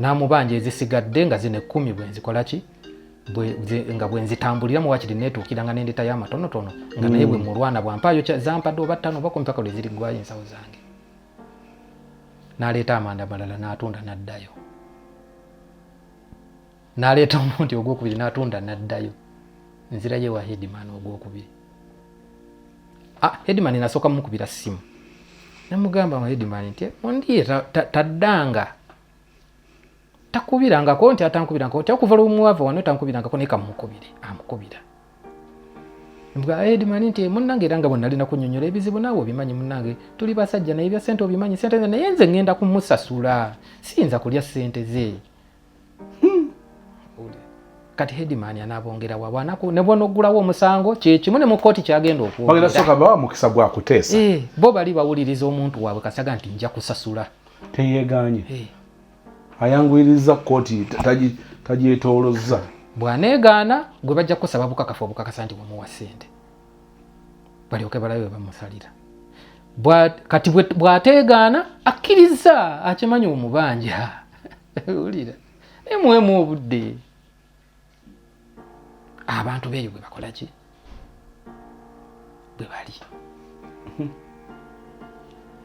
n'amubanja ezisigadde nga zino ekkumi bwe nzikola ki nga bwe nzitambulira muwakiri neetuukira nga nendetayo amatonotono nga naye bwe mm. mulwana bwampaayo zampadde oba ttano oba kumpaka lwe ziriggwayo ensawo zange n'aleeta amanda malala n'atunda n'addayo n'aleeta omundi ogwokubiri n'atunda n'addayo nzirayo ewa headman ogwokubiri ah, headman nasooka mumukubira simu namugamba nga headman nti ondiye taddanga takubirangako nti atankubirangako nti okuva lwomwava wano tankubirangako naye kamukubire amukubira mbwa headman nti munange era nga bwenalina kunyonyola ebizibu naawe obimanyi munange tuli basajja naye bya sente obimanyi sente naye nze ngenda kumusasula siyinza kulya sente ze hmm. kati headman anabongera wa bwanako ne bwono gulawo omusango kyekimu ne mukoti kyagenda okwogera soka bawa mukisa gwa kutesa eh bo bali bawuliriza omuntu wabwe kasaga nti nja kusasula teyeganye eh ayanguyiriza koti taji taji etolozza bwanegaana gwe bajja kusaba bukakafu obukakasa nti bumuwa sente balyoke balabe bamusalira kati bwateegaana akkiriza akimanyi omubanja wulira naye muwemu obudde abantu beeyo bwe bakola ki bwe bali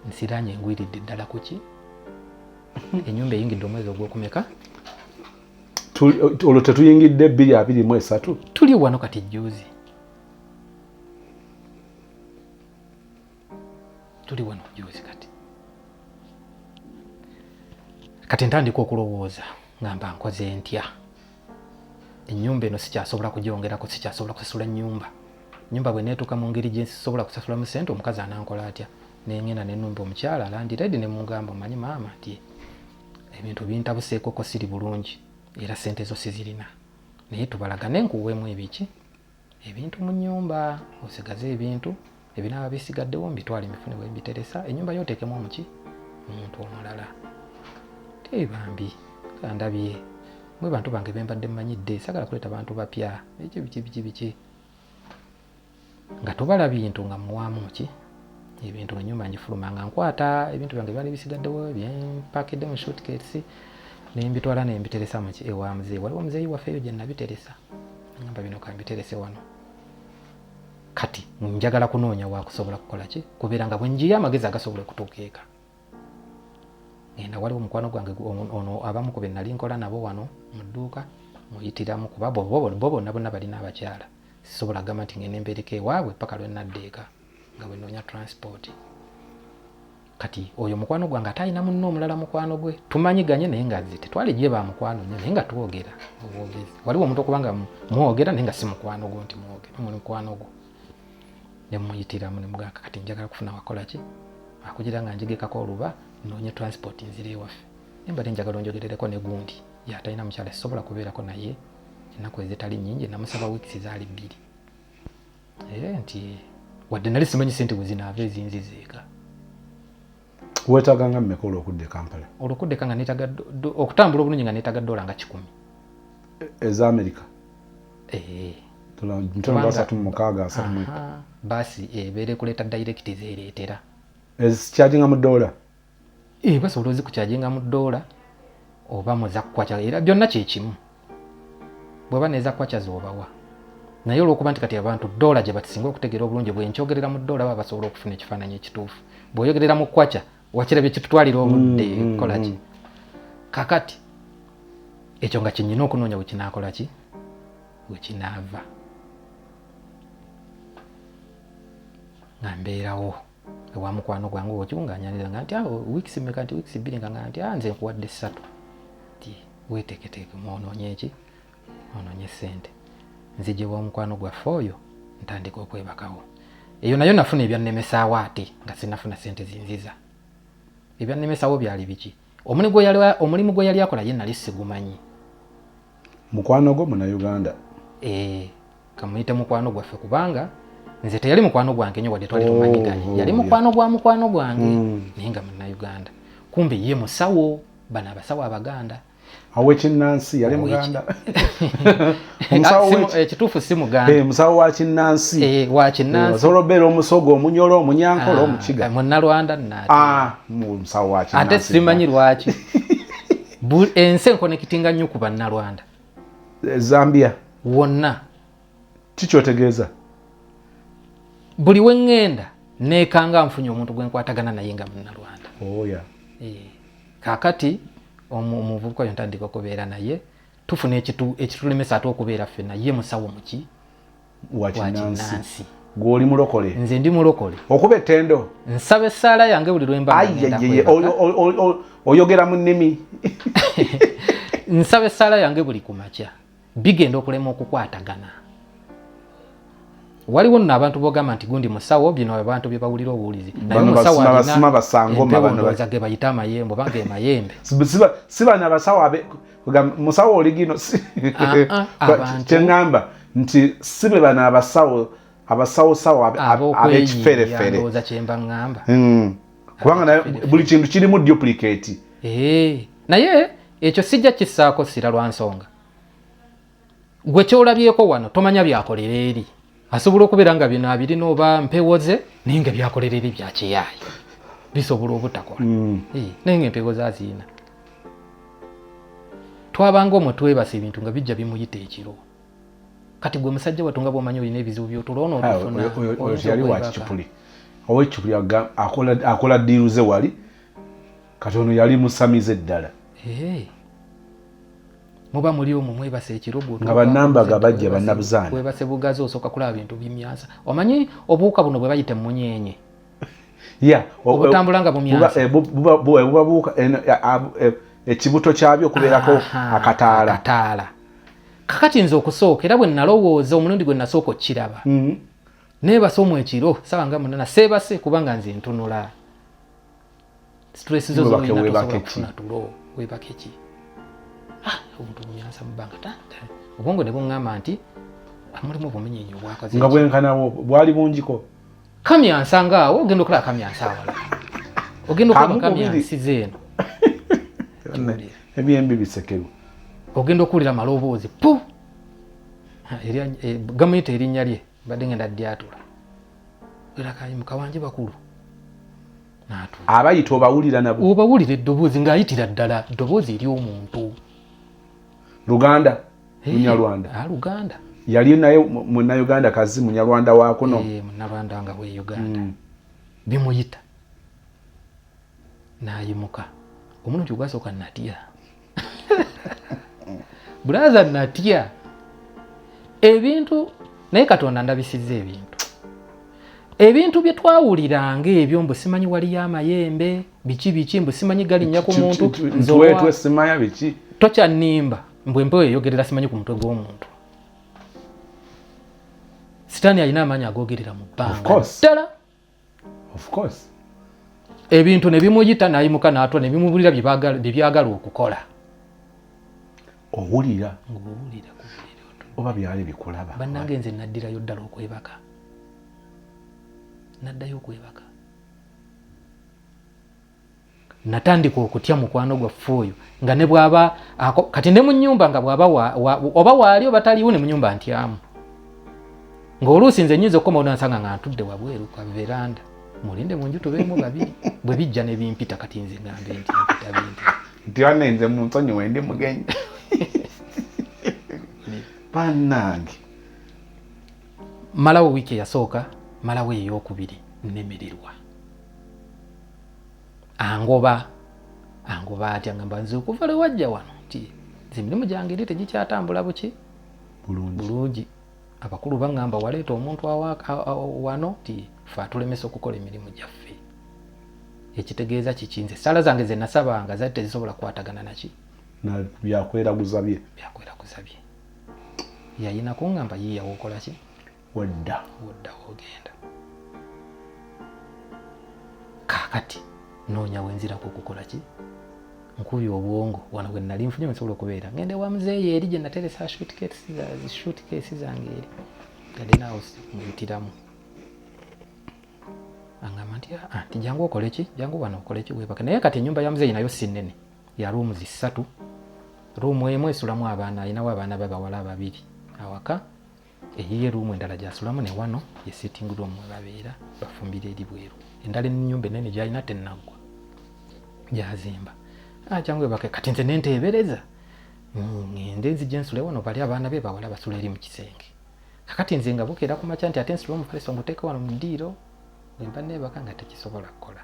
nsiranye engwiridde ddala ku ki enyumba eyingidde omwezi ogwokumeka olwo tetuyingidde bbiri abiri mu esatu tuli wano kati juzi tuli wano joozi kati kati ntandika okulowooza nga mba nkoze ntya ennyumba eno sikyasobola kugyongerako sikyasobola kusasula nnyumba nyumba bwe neetuuka mu ngeri gye nsobola kusasula mu sente omukazi anankola atya nengenda nenumba omukyala landiredi ne mugamba omanyi maama ti ebintu bintabuseekoko siri bulungi era sente zo sizirina naye tubalagane nkuweemu ebiki ebintu mu nyumba osigaze ebintu ebinaaba bisigaddewo mbitwale mifune bwe mbiteresa ennyumba yo oteekemu omuki omuntu omulala tee bambi kandabye mwe bantu bange bembadde mmanyidde sagala kuleeta bantu bapya ekyo biki biki biki nga tubala bintu nga muwaamu ki ebintu nga nyumba ngifuluma nga nkwata ebintu byange byali bisigaddewo byempakidde mu shootkesi nembitwala nembiteresa muki ewa muzeeyi waliwo muzeeyi waffe eyo gye nabiteresa namba bino kambiterese wano kati njagala kunoonya wakusobola kukola ki kubeera nga bwenjiyo amagezi agasobola okutuuka eka ngenda waliwo omukwano gwange ono abamu ku benali nkola nabo wano mu dduuka muyitiramu kuba bo bonna bonna balina abakyala sisobola kugamba nti ngenda empeereka ewaabwe paka lwenadda eka nga bwenoonya transport kati oyo mukwano gwange ate alina munne omulala mukwano gwe tumanyi ganye naye nga zi tetwali gye ba mukwano nyo naye nga twogera obwogezi waliwo omuntu okuba nga mwogera naye nga si mukwano gwo nti mwogera muli mukwano gwo ne muyitiramu ne mugamba kati njagala kufuna wakola ki akugira nga njigekako oluba noonya transport nzira ewaffe naye mbadde njagala onjogerereko ne gundi yatalina mukyala sisobola kubeerako naye ennaku ezitali nnyingi namusaba wiikisi zaali bbiri eh, nti wadde nali simanyi sente bwe zinaava ezinzizeeka wetaganga mmeka olwokudda ekampala olwokuddeka nga netaga okutambula obulungi nga netaga dola nga kikumi e, eza amerika eh. baasi ebeera ekuleeta dayirekiti zeereetera ezikyajinga mu dola e eh, basobola ozikukyajenga mu doola oba mu zakkwaca era byonna kyekimu bweba nezakkwaca zobawa naye olwokuba nti kati abantu doola gye batisinga okutegeera obulungi bwenkyogerera mu doola baba basobola okufuna ekifaananyi ekituufu bweoyogerera mu kwaca wakira byekitutwalira obudde mm, mm, kukolaki mm. kakati ekyo nga kyenyina okunoonya wekinakolaki wekinaava nga mbeerawo ewa mukwano gwange okimu ng'anyanira nga nti awo ah, wiikisi meka nti wiikisi bbiri nga nga nti a ah, nze nkuwadde ssatu ti weeteeketeeke mwonoonye ki onoonye ssente nzijewa omukwano gwaffe oyo ntandika okwebakawo eyo nayo nafuna ebyannemesaawo ate nga sinafuna ssente zinziza ebyannemesaawo byali biki omulimu gwe yali akola ye nali sigumanyi mukwano gwo munauganda eh, kamuyite mukwano gwaffe kubanga nze teyali mukwano gwange nyo wadde twali oh, tumanyiganye oh, yali mukwano gwa mukwano gwange hmm. naye nga munauganda kumbe ye musawo bano abasawo abaganda awekinnansi yali muganda ah, ekituufu eh, si muganda eh, musawo wa kinnansi eh, wasobola obeera omusoga omunyola omunyankola ah, omukiga munalwanda ah, musawo waate simanyi lwaki ensi enkonekitinga nnyo ku bannalwanda zambia wonna kikyotegeeza buli weŋŋenda neekanga nfunye omuntu gwe nkwatagana naye nga munnalwanda oh, eh, kaakati omuvubuka oyo ntandika okubeera naye tufuna ekitulemesa ate okubeera ffe naye musawo muki wakinansi gwoli mulokole nze ndi mulokole okuba ettendo nsaba essaala yange buli lwembaoyogera mu nnimi nsaba essaala yange buli kumakya bigenda okulema okukwatagana waliwo nno abantu bogamba nti gundi musawo bino abantu byebawulira obuwulizi nayemusawooza gebayita amayembe oba gemayembe sibana basawo musawo oligino ah, ah, kyeŋamba nti sibe bano abasawo abasawosawo abekiferefere kyemba ŋamba hmm. kubanga buli kintu kirimu duplicate eh, naye ekyo sijja kisaako sira lwa nsonga gwe kyolabyeko wano tomanya byakolera eri asobola okubeera nga bino abirina oba mpewo ze naye nga byakolera eri byakiyaayo bisobola obutakola hmm. eh, naye nga empewo ze aziina twabanga omwe twebasa ebintu nga bijja bimuyita ekiro kati gwe musajja watu nga bwomanyi olina ebizibu byotula ono otufunaoyali wakicupuli owekicupuli akola diiru ze wali kati ono yali musamize ddala muba muli omwo mwebase ekirogo nga banambaga bajja banabuzaana webase bugazi osooka kulaba bintu bimyansa omanyi obuwuka buno bwe bayita emunyenye ya obutambula nga bumyansa eh, bubabuuka eh, eh, ekibuto kyabyo okubeerako akataala kakati nze okusooka era bwe nalowooza omulundi gwe nasooka okukiraba mm. nebasa omu ekiro saba nga munana seebase kubanga nze ntunula stress zo zoinatosobolakufuna tulo webake ki ah, omuntu omumyansa mubanga tata obwongo ne buŋŋamba nti amulimu obumenyenyi obwakazi nga bwenkanawo bwali bungiko kamyansa ngaawo ogenda okulaba kamyansa awala ogenda okulaba kamyansi zeeno ebyembi bisekeru ogenda okuwulira maloboozi pu eh, gamuyita erinnya lye mbadde ngenda dyatula erakayimukawanje bakulu abayita obawulira nabo obawulira eddoboozi ng'ayitira ddala ddoboozi ery'omuntu luganda hey, munyarwanda ah, luganda yali naye munauganda kazi munyarwanda wakuno hey, eh, munarwanda nga we uganda mm. bimuyita nayimuka omuno nti ogwasoka natya bulaza natya ebintu naye katonda ndabisiza ebintu ebintu bye twawuliranga ebyo mbu simanyi waliyo amayembe biki biki mbu simanyi galinnya ku muntu nzewetwe simaya biki tokyanimba mbu empewo eyogerera simanyi ku mutwe gw'omuntu sitaani alina amaanyi agogerera mu bbanga ddala ebintu ne bimuyita n'ayimuka n'atwa ne bimubulira bye byagala okukola owulira ng'owulira oba byali bikulaba bannange nze naddirayo ddala okwebaka naddayo okwebaka natandika okutya mukwano gwaffe oyo nga ne bwaba kati ne mu nyumba nga bwaba oba waali oba taliwo ne mu nyumba ntyamu ng'oluusi nze nyinza okukoma onansanga nga ntudde wabweru ka veranda mulinde mu nju tubeemu babiri bwe bijja ne bimpita kati nze ngambe nti mpita bintu nti wane nze mu nsonyi wendi mugenyi bannange malawo wiiki eyasooka malawo eyokubiri nemererwa angoba angoba atya ngamba nze okuva lwe wajja wano nti nze emirimu gyange eri tegikyatambula buki bulungi abakulu baŋŋamba waleeta omuntu wano nti fe atulemesa okukola emirimu gyaffe ekitegeeza kiki nze esaala zange ze nasabanga zali tezisobola kukwatagana naki byakweraguza bye byakweraguza bye yayina kungamba yiya wokolaki wodda wodda wogenda kakati noonya wenzirako okukola ki nkubi obwongo wano bwe nali nfunye nsobola okubeera ngende wa muzeeyi eri gye nateresa shutkeesi zange eri gadenaawusi muyitiramu angamba nti ah, ah, nti jangu okoleki jangu wano okoleki webake naye kati enyumba ya muzeeyi nayo si nnene ya ruumu zissatu ruumu emu esulamu abaana alinawo abaana babawala ababiri awaka eyiye ruumu endala gyasulamu ne wano ye sitting room webabeera bafumbira eri bweru endala enyumba enene gyalina tenaggwa gyazimba akyangu ah, ebake kati nze nenteebereza ngende nzija ensule wano bali abaana be bawala basula eri mu kisenge kakati nze nga bukeera ku makya nti ate nsula omufaliso nguteeke wano mu ddiiro bwemba nebaka nga tekisobola kukola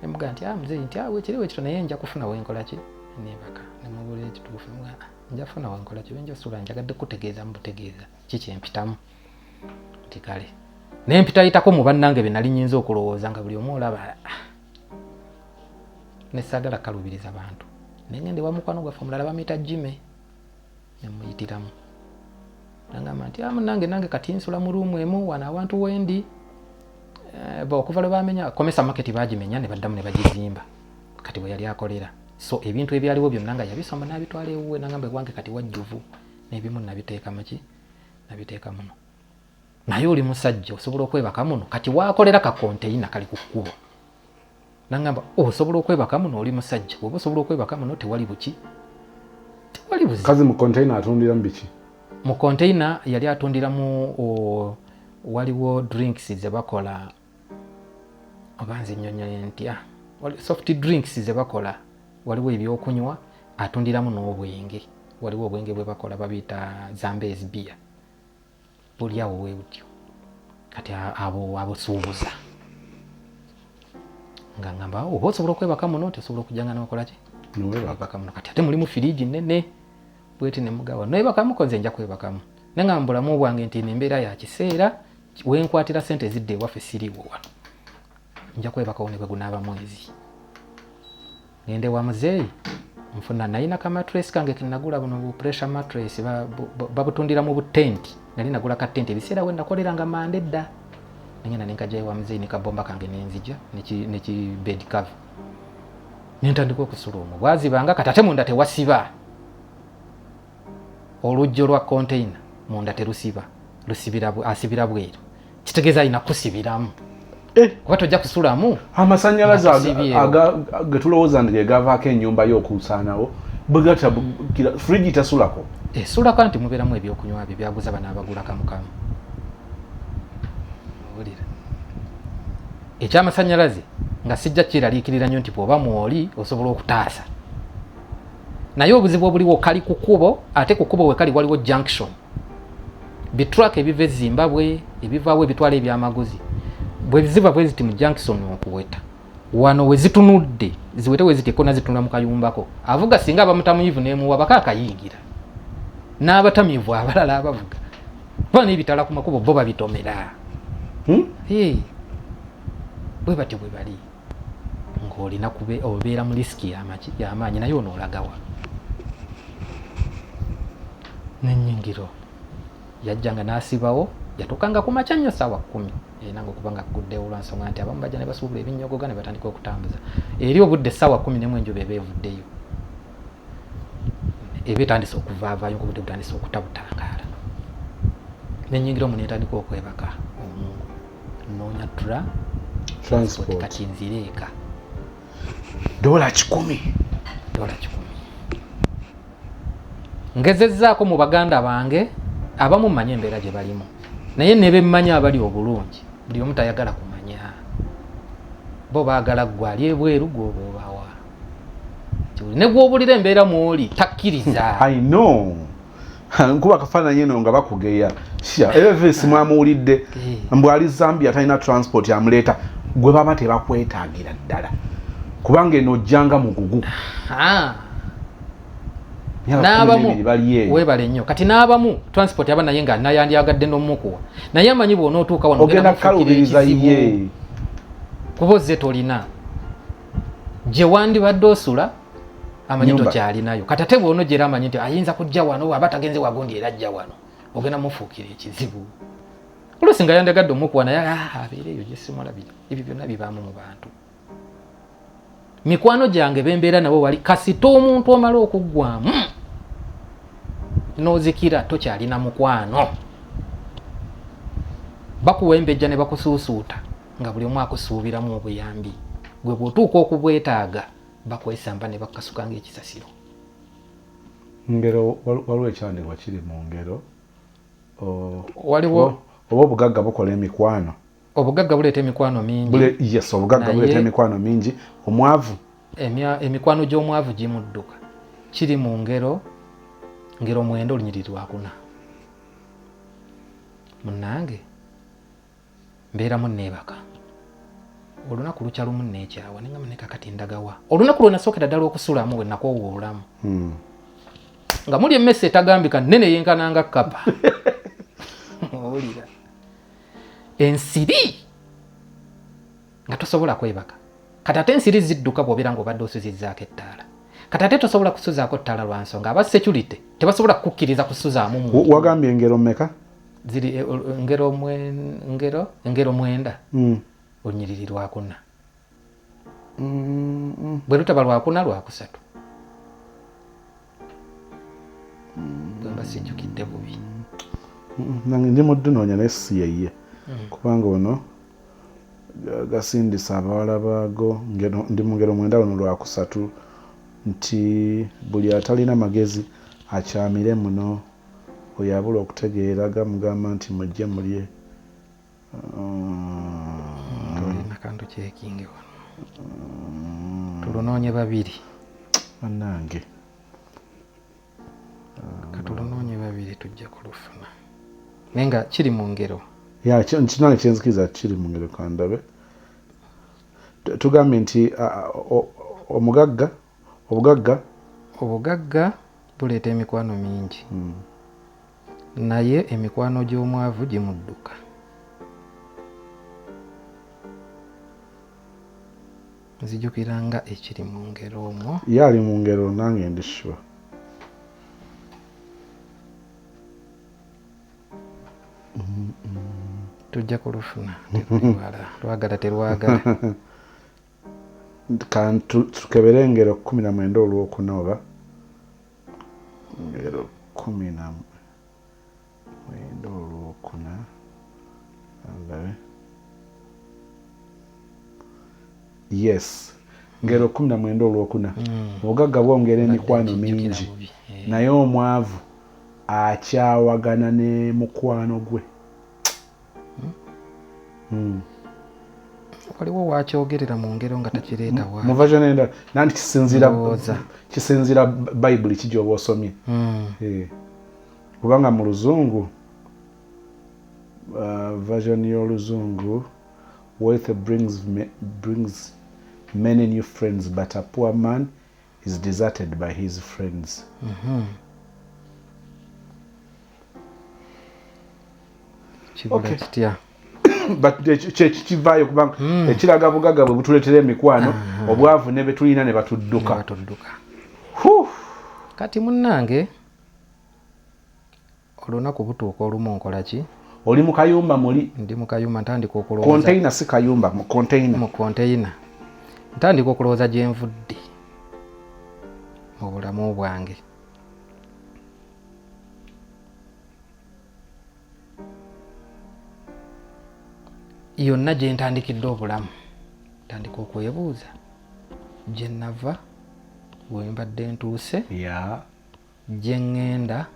nemuga nti ah, muzeyi nti awe ah, kiri wekito naye nja kufuna wenkola ki nebaka nemubulira ekituufu nga ah, nja funa wenkola ki benja sula njagadde kutegeeza mubutegeeza kikyempitamu nti kale naye mpitayitako mu bannange be nali nyinza okulowooza nga buli omu olaba nesagala kalubiriza bantu naye ngende wamukwano gwaffe omulala bamuyita jime nemuyitiramu nangamba nti ah, munange nange kati nsula mu ruumu emu wano awantu wendi eh, okuva lwe bamenya komesa maketi bagimenya ne baddamu ne bagizimba kati bwe yali akolera so ebintu ebyaliwo byonna nga yabisomba n'abitwala ewuwe nangamba ewange kati wajjuvu n'ebimu nabiteeka muki nabiteeka muno naye oli musajja osobola okwebaka muno kati wakolera kakonteyina kali ku kkubo nangamba oh, osobola okwebaka muno oli musajja oba osobola okwebaka muno tewali buki tewali buzi kazi mu container atundira mu biki mu container yali atundiramu oh, waliwo drinks zebakola oba nze nyonyole ntya ah, soft drinks zebakola waliwo ebyokunywa atundiramu n'obwenge waliwo obwenge bwebakola babiyita zambes beer oli awo wewutyo kati abo abosuubuza nga ngamba oba oh, osobola okwebaka muno nti osobola okujanga nokolaki webaka muno kati ate mulimu firiji nene bweti nemugawa newebakamu konze nja kwebakamu naye nga mubulamu bwange nti eno embeera ya kiseera wenkwatira sente ezidde ewaffe siriwo wano nja kwebakawo ne bwegunaaba mwezi ngende wa muzeeyi nfuna nalina ka matres kange kenagula buno bu pressure matres babutundira mu butenti nali nagula ka tenti ebiseera we nakolera nga mande dda nengenda nenkajayo wa muzeeyi ne kabomba kange nenzija neki bed cover nentandika okusula omwo bwaziba nga katate munda tewasiba olujjo lwa containa munda terusiba lusibira asibira bweru kitegeeza alina kusibiramu eh. kuba tojja kusulamu amasanyalaze getulowooza nti gegavaako enyumba yokusaanawo bwegata frigi tasulako esulako eh, nti mubeeramu ebyokunywa bye byaguza bana abagula kamukamu owulira ekyamasanyalaze nga sijja kyeraliikirira nnyo nti bwoba mwoli osobola okutaasa naye obuzibu obuliwo kali ku kubo ate ku kubo wekali waliwo junction bitruck ebiva ezimbabwe ebivawo ebitwala ebyamaguzi bweziva bweziti mu junction okuweta wano wezitunudde ziwete weziti ekona zitunula mu kayumbako avuga singa abamutamuyivu nemuwa baka akayingira n'abatamivu abalala abavuga kuba nebitala ku makubo bo babitomera hmm? bwe batyo bwe bali ng'olina obeera mu lisiki y'amaanyi naye ono olagawa nenyingiro yajjanga n'asibawo yatuukanga ku makya nnyo saawa kkumi erina nga okuba nga kuguddewo olwansonga nti abamu bajja ne basuubula ebinnyogoga ne batandika okutambuza eri obudde saawa kkumi nemu enjuba eba evuddeyo eba etandise okuvaavayo ngaobudde butandise okutabutangaala nenyingira omu netandika okwebaka omungu noonya tra transport kati nvire eka dola kikumi dola kikumi ngezezzaako mu baganda bange abamu mmanyi embeera gye balimu naye ne bemmanyi abali obulungi buli omu tayagala kumanya bo baagala ggwe ali ebweru gwoba obawa ne gwobulira embeera mwoli takkiriza nkuba kafaananyi eno nga bakugeya sha elvis mwamuwulidde eh. mbu ali zambia atalina transport amuleeta gwe baba tebakwetaagira ddala kubanga eno ojjanga mugugu webale nnyo kati n'abamu transport aba naye nga nayandyagadde n'omukuwa naye amanyi bwona otuuka wanoogenda kukalubiriza ye kuba ozze tolina gye wandibadde osula amanyi tokyalinayo kati ate bwona ogyera amanyi nti ayinza kujja wano aba tagenze wagundi era ajja wano ogenda mufuukira ekizibu olusi nga yandagadde omukuwa naye ah, abeera eyo gyesimulabira ebyo byonna bibaamu mu bantu mikwano gyange bembeera nabo wali kasita omuntu omala okuggwamu nozikira tokyalina mukwano bakuwembejja ne bakusuusuuta nga buli omu akusuubiramu obuyambi gwe bwotuuka okubwetaaga bakwesamba ne bakasuka ng'ekisasiro ngero waliwo ekyandibwa kiri mu ngero waliwo oba obugagga bukola emikwano obugagga buleeta emikwano mingi yes obugagga buleeta emikwano mingi omwavu emikwano gy'omwavu gimudduka kiri mu ngero ngero mwenda olunyiriri lwakuna munange mbeeramu neebaka olunaku lukya lumu neekyawa nengamba ne kakati ndagawa olunaku lwe nasookera ddala okusulamu bwe nakoowa obulamu hmm. nga muli emmese etagambika nene yenkananga kapa owulira ensiri nga tosobola kwebaka kati ate ensiri zidduka bwobeera nga obadde osuzizaako ettaala kati ate tosobola kusuzaako ttaala lwa nsonga aba security tebasobola kukukkiriza kusuzaamu wagambye engero meka ziri e, engero engero engero mwenda mm. onyiriri lwakuna mm, mm. bwe lutaba lwakuna lwakusatu bwemba mm. sijjukidde bubi nange ndi muddunoonya naye si yeye mm. kubanga ono gasindisa abawala baago ndi mu ngero mwenda luno lwakusatu nti buli atalina magezi akyamire muno Oyo abula okutegeera gamugamba nti mujje mulye tolina kantu kyekinge wano tulunoonye babiri banange katulunoonye babiri tujja kulufuna naye nga kiri mu ngero kinange kyenzikiriza kiri mu ngero kandabe tugambye nti omugagga Obugagga obugagga buleeta emikwano mingi mm. naye emikwano gy'omwavu gimudduka. Nzijukira nga ekiri mu ngero omwo. Ye ali mu ngero nange ndi sure. tujja kulufuna terwala lwagala terwagala kantu tukebere engero kumi na mwenda olwokuna oba engero kumi na mwenda olwokuna andabe yes ngero kumi na mwenda olwokuna mm. obugagga bwongera emikwano mingi eh. naye omwavu akyawagana ne mukwano gwe hmm. waliwo wakyogerera mu ngero nga takireetawanenda nanti kisinziira bayibuli kiji oba osomye hmm. eh. kubanga mu luzungu uh, version y'oluzungu wealth brings, brings many new friends but a poor man is deserted by his friends mm -hmm. okay. kitya but kyekivaayo kubanga mm. ekiraga bugaga bwe butuleetera emikwano uh ah. -huh. obwavu ne betulina ne batudduka kati munnange Olunaku butuuka olumu nkola ki? Oli mu kayumba muli? Ndi mu kayumba ntandika okulowooza. Konteyina si kayumba, mu konteyina. Mu konteyina. Ntandika okulowooza gye nvudde mu bulamu bwange. yonna gye ntandikidde obulamu ntandika okwebuuza gye nava we mbadde ntuuse gye ŋŋenda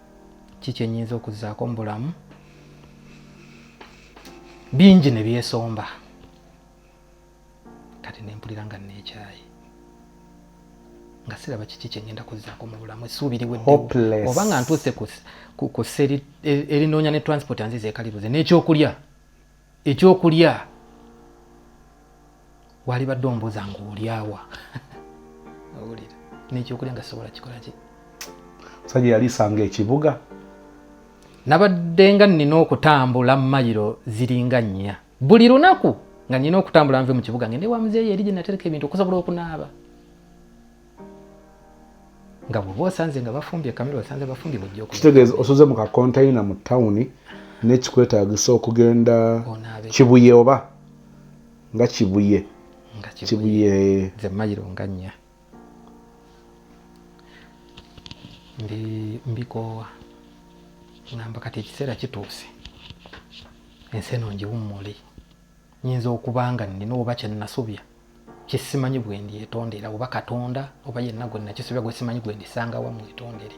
ki kye nnyinza okuzzaako mu bulamu bingi ne byesomba kati ne mpulira nga nneekyayi nga siraba kiki kye ŋŋenda kuzzaako mu bulamu essuubi liweddewo oba nga ntuuse ku ssa erinoonya ne transport anziza ekalibuze n'ekyokulya ekyokulya walibadde ombuuza nga olyawa owulira nekyokulya nga sobola kikolaki musajja yalisanga ekibuga nabadde nga nina okutambula mayiro ziringa nnya buli lunaku nga nina okutambula nve mu kibuga ngende wa muzeeyi eri gye natereka ebintu okusobola okunaaba nga bwoba osanze nga bafumbye kamera osanze bafumbye mujja kitegeeza osoze mu kakonteyina mu tawuni nekikwetagisa okugenda kibuye oba nga kibuye kibuye nze mayiro nga nnya mbikoowa ngamba kati ekiseera kituuse ensi eno ngiwummuli nyinza okuba nga nnina oba kye nnasobya kye simanyi bwe ndyetondera oba katonda oba yenna gwe nakisobya gwe simanyi gwe ndisanga wa mwetondere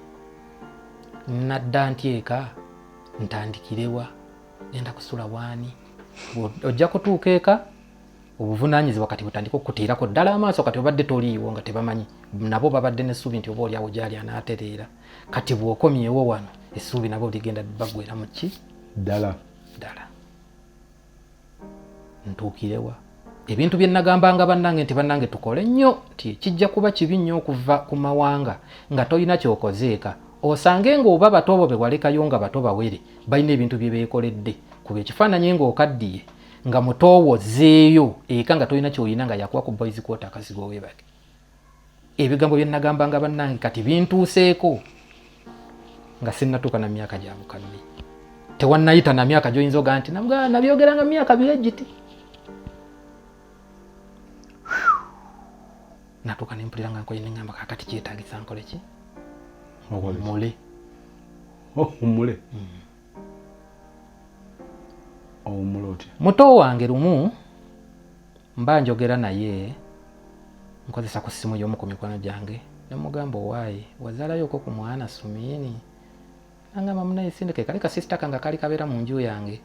nadda ntyeka ntandikirewa genda kusula waani ojja kutuuka eka obuvunaanyizibwa kati butandika okuteerako ddala amaaso kati obadde toliiwo nga tebamanyi nabo babadde n'essuubi nti oba olyawo gyali anaatereera kati bw'okomyewo wano essuubi nabo ligenda bagwera mu ki ddala ddala ntuukirewa ebintu bye nagambanga bannange nti bannange tukole nnyo nti kijja kuba kibi nnyo okuva ku mawanga nga tolina kyokozeeka osange ng'oba bato bo be walekayo nga bato bawere balina ebintu bye beekoledde kuba ekifaananyi ng'okaddiye nga mutoowo zeeyo eka nga tolina kyolina nga yakuwa ku boys kwota akazigo webake ebigambo bye nagambanga bannange kati bintuuseeko nga sinnatuuka na myaka gya bukadde tewannayita na myaka gy'oyinza oga nti nabyogeranga mu myaka bye giti natuuka ne mpulira nga nkoye neŋamba kakati kyetagisa nkole ki owummule owummule hmm. muto wange lumu mba njogera naye nkozesa ku ssimu y'omu ku mikono gyange nemugamba owaayi wazalayoko ku mwana sumiini nangamba munaye sindeke kali kasisita kange kali kabeera mu nju yange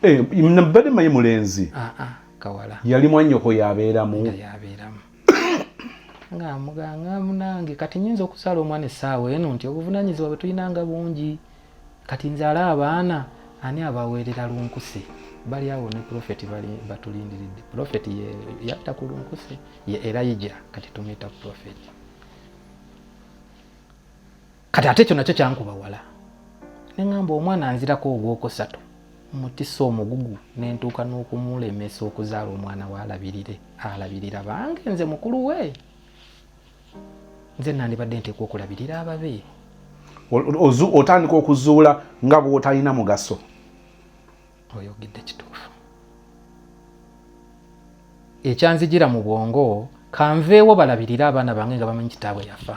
eh, nabadde mayi mulenzi ah, ah, kawala yali mwanyoko yabeeramu yabeeramu nga muganga munange kati nyinza okusala omwana essaawa eno nti obuvunanyizibwa bwe tulinanga bungi kati nze ala abaana ani abaweerera lunkuse bali awo ne profeti batulindiridde profeti yatta ku lunkuse ye erayija kati tumuyita profeti kati ate ekyo nakyo kyankuba wala neŋamba omwana anzirako ogwokusatu mutisa omugugu nentuuka n'okumulemesa okuzaala omwana waalabirire alabirira bange nze mukulu we nze nandibadde nteekwa okulabirira ababe otandika okuzuula nga bwotalina mugaso oyogedde kituufu ekyanzijira mu bwongo kanveewo balabirire abaana bange nga bamanyi kitaabwe yafa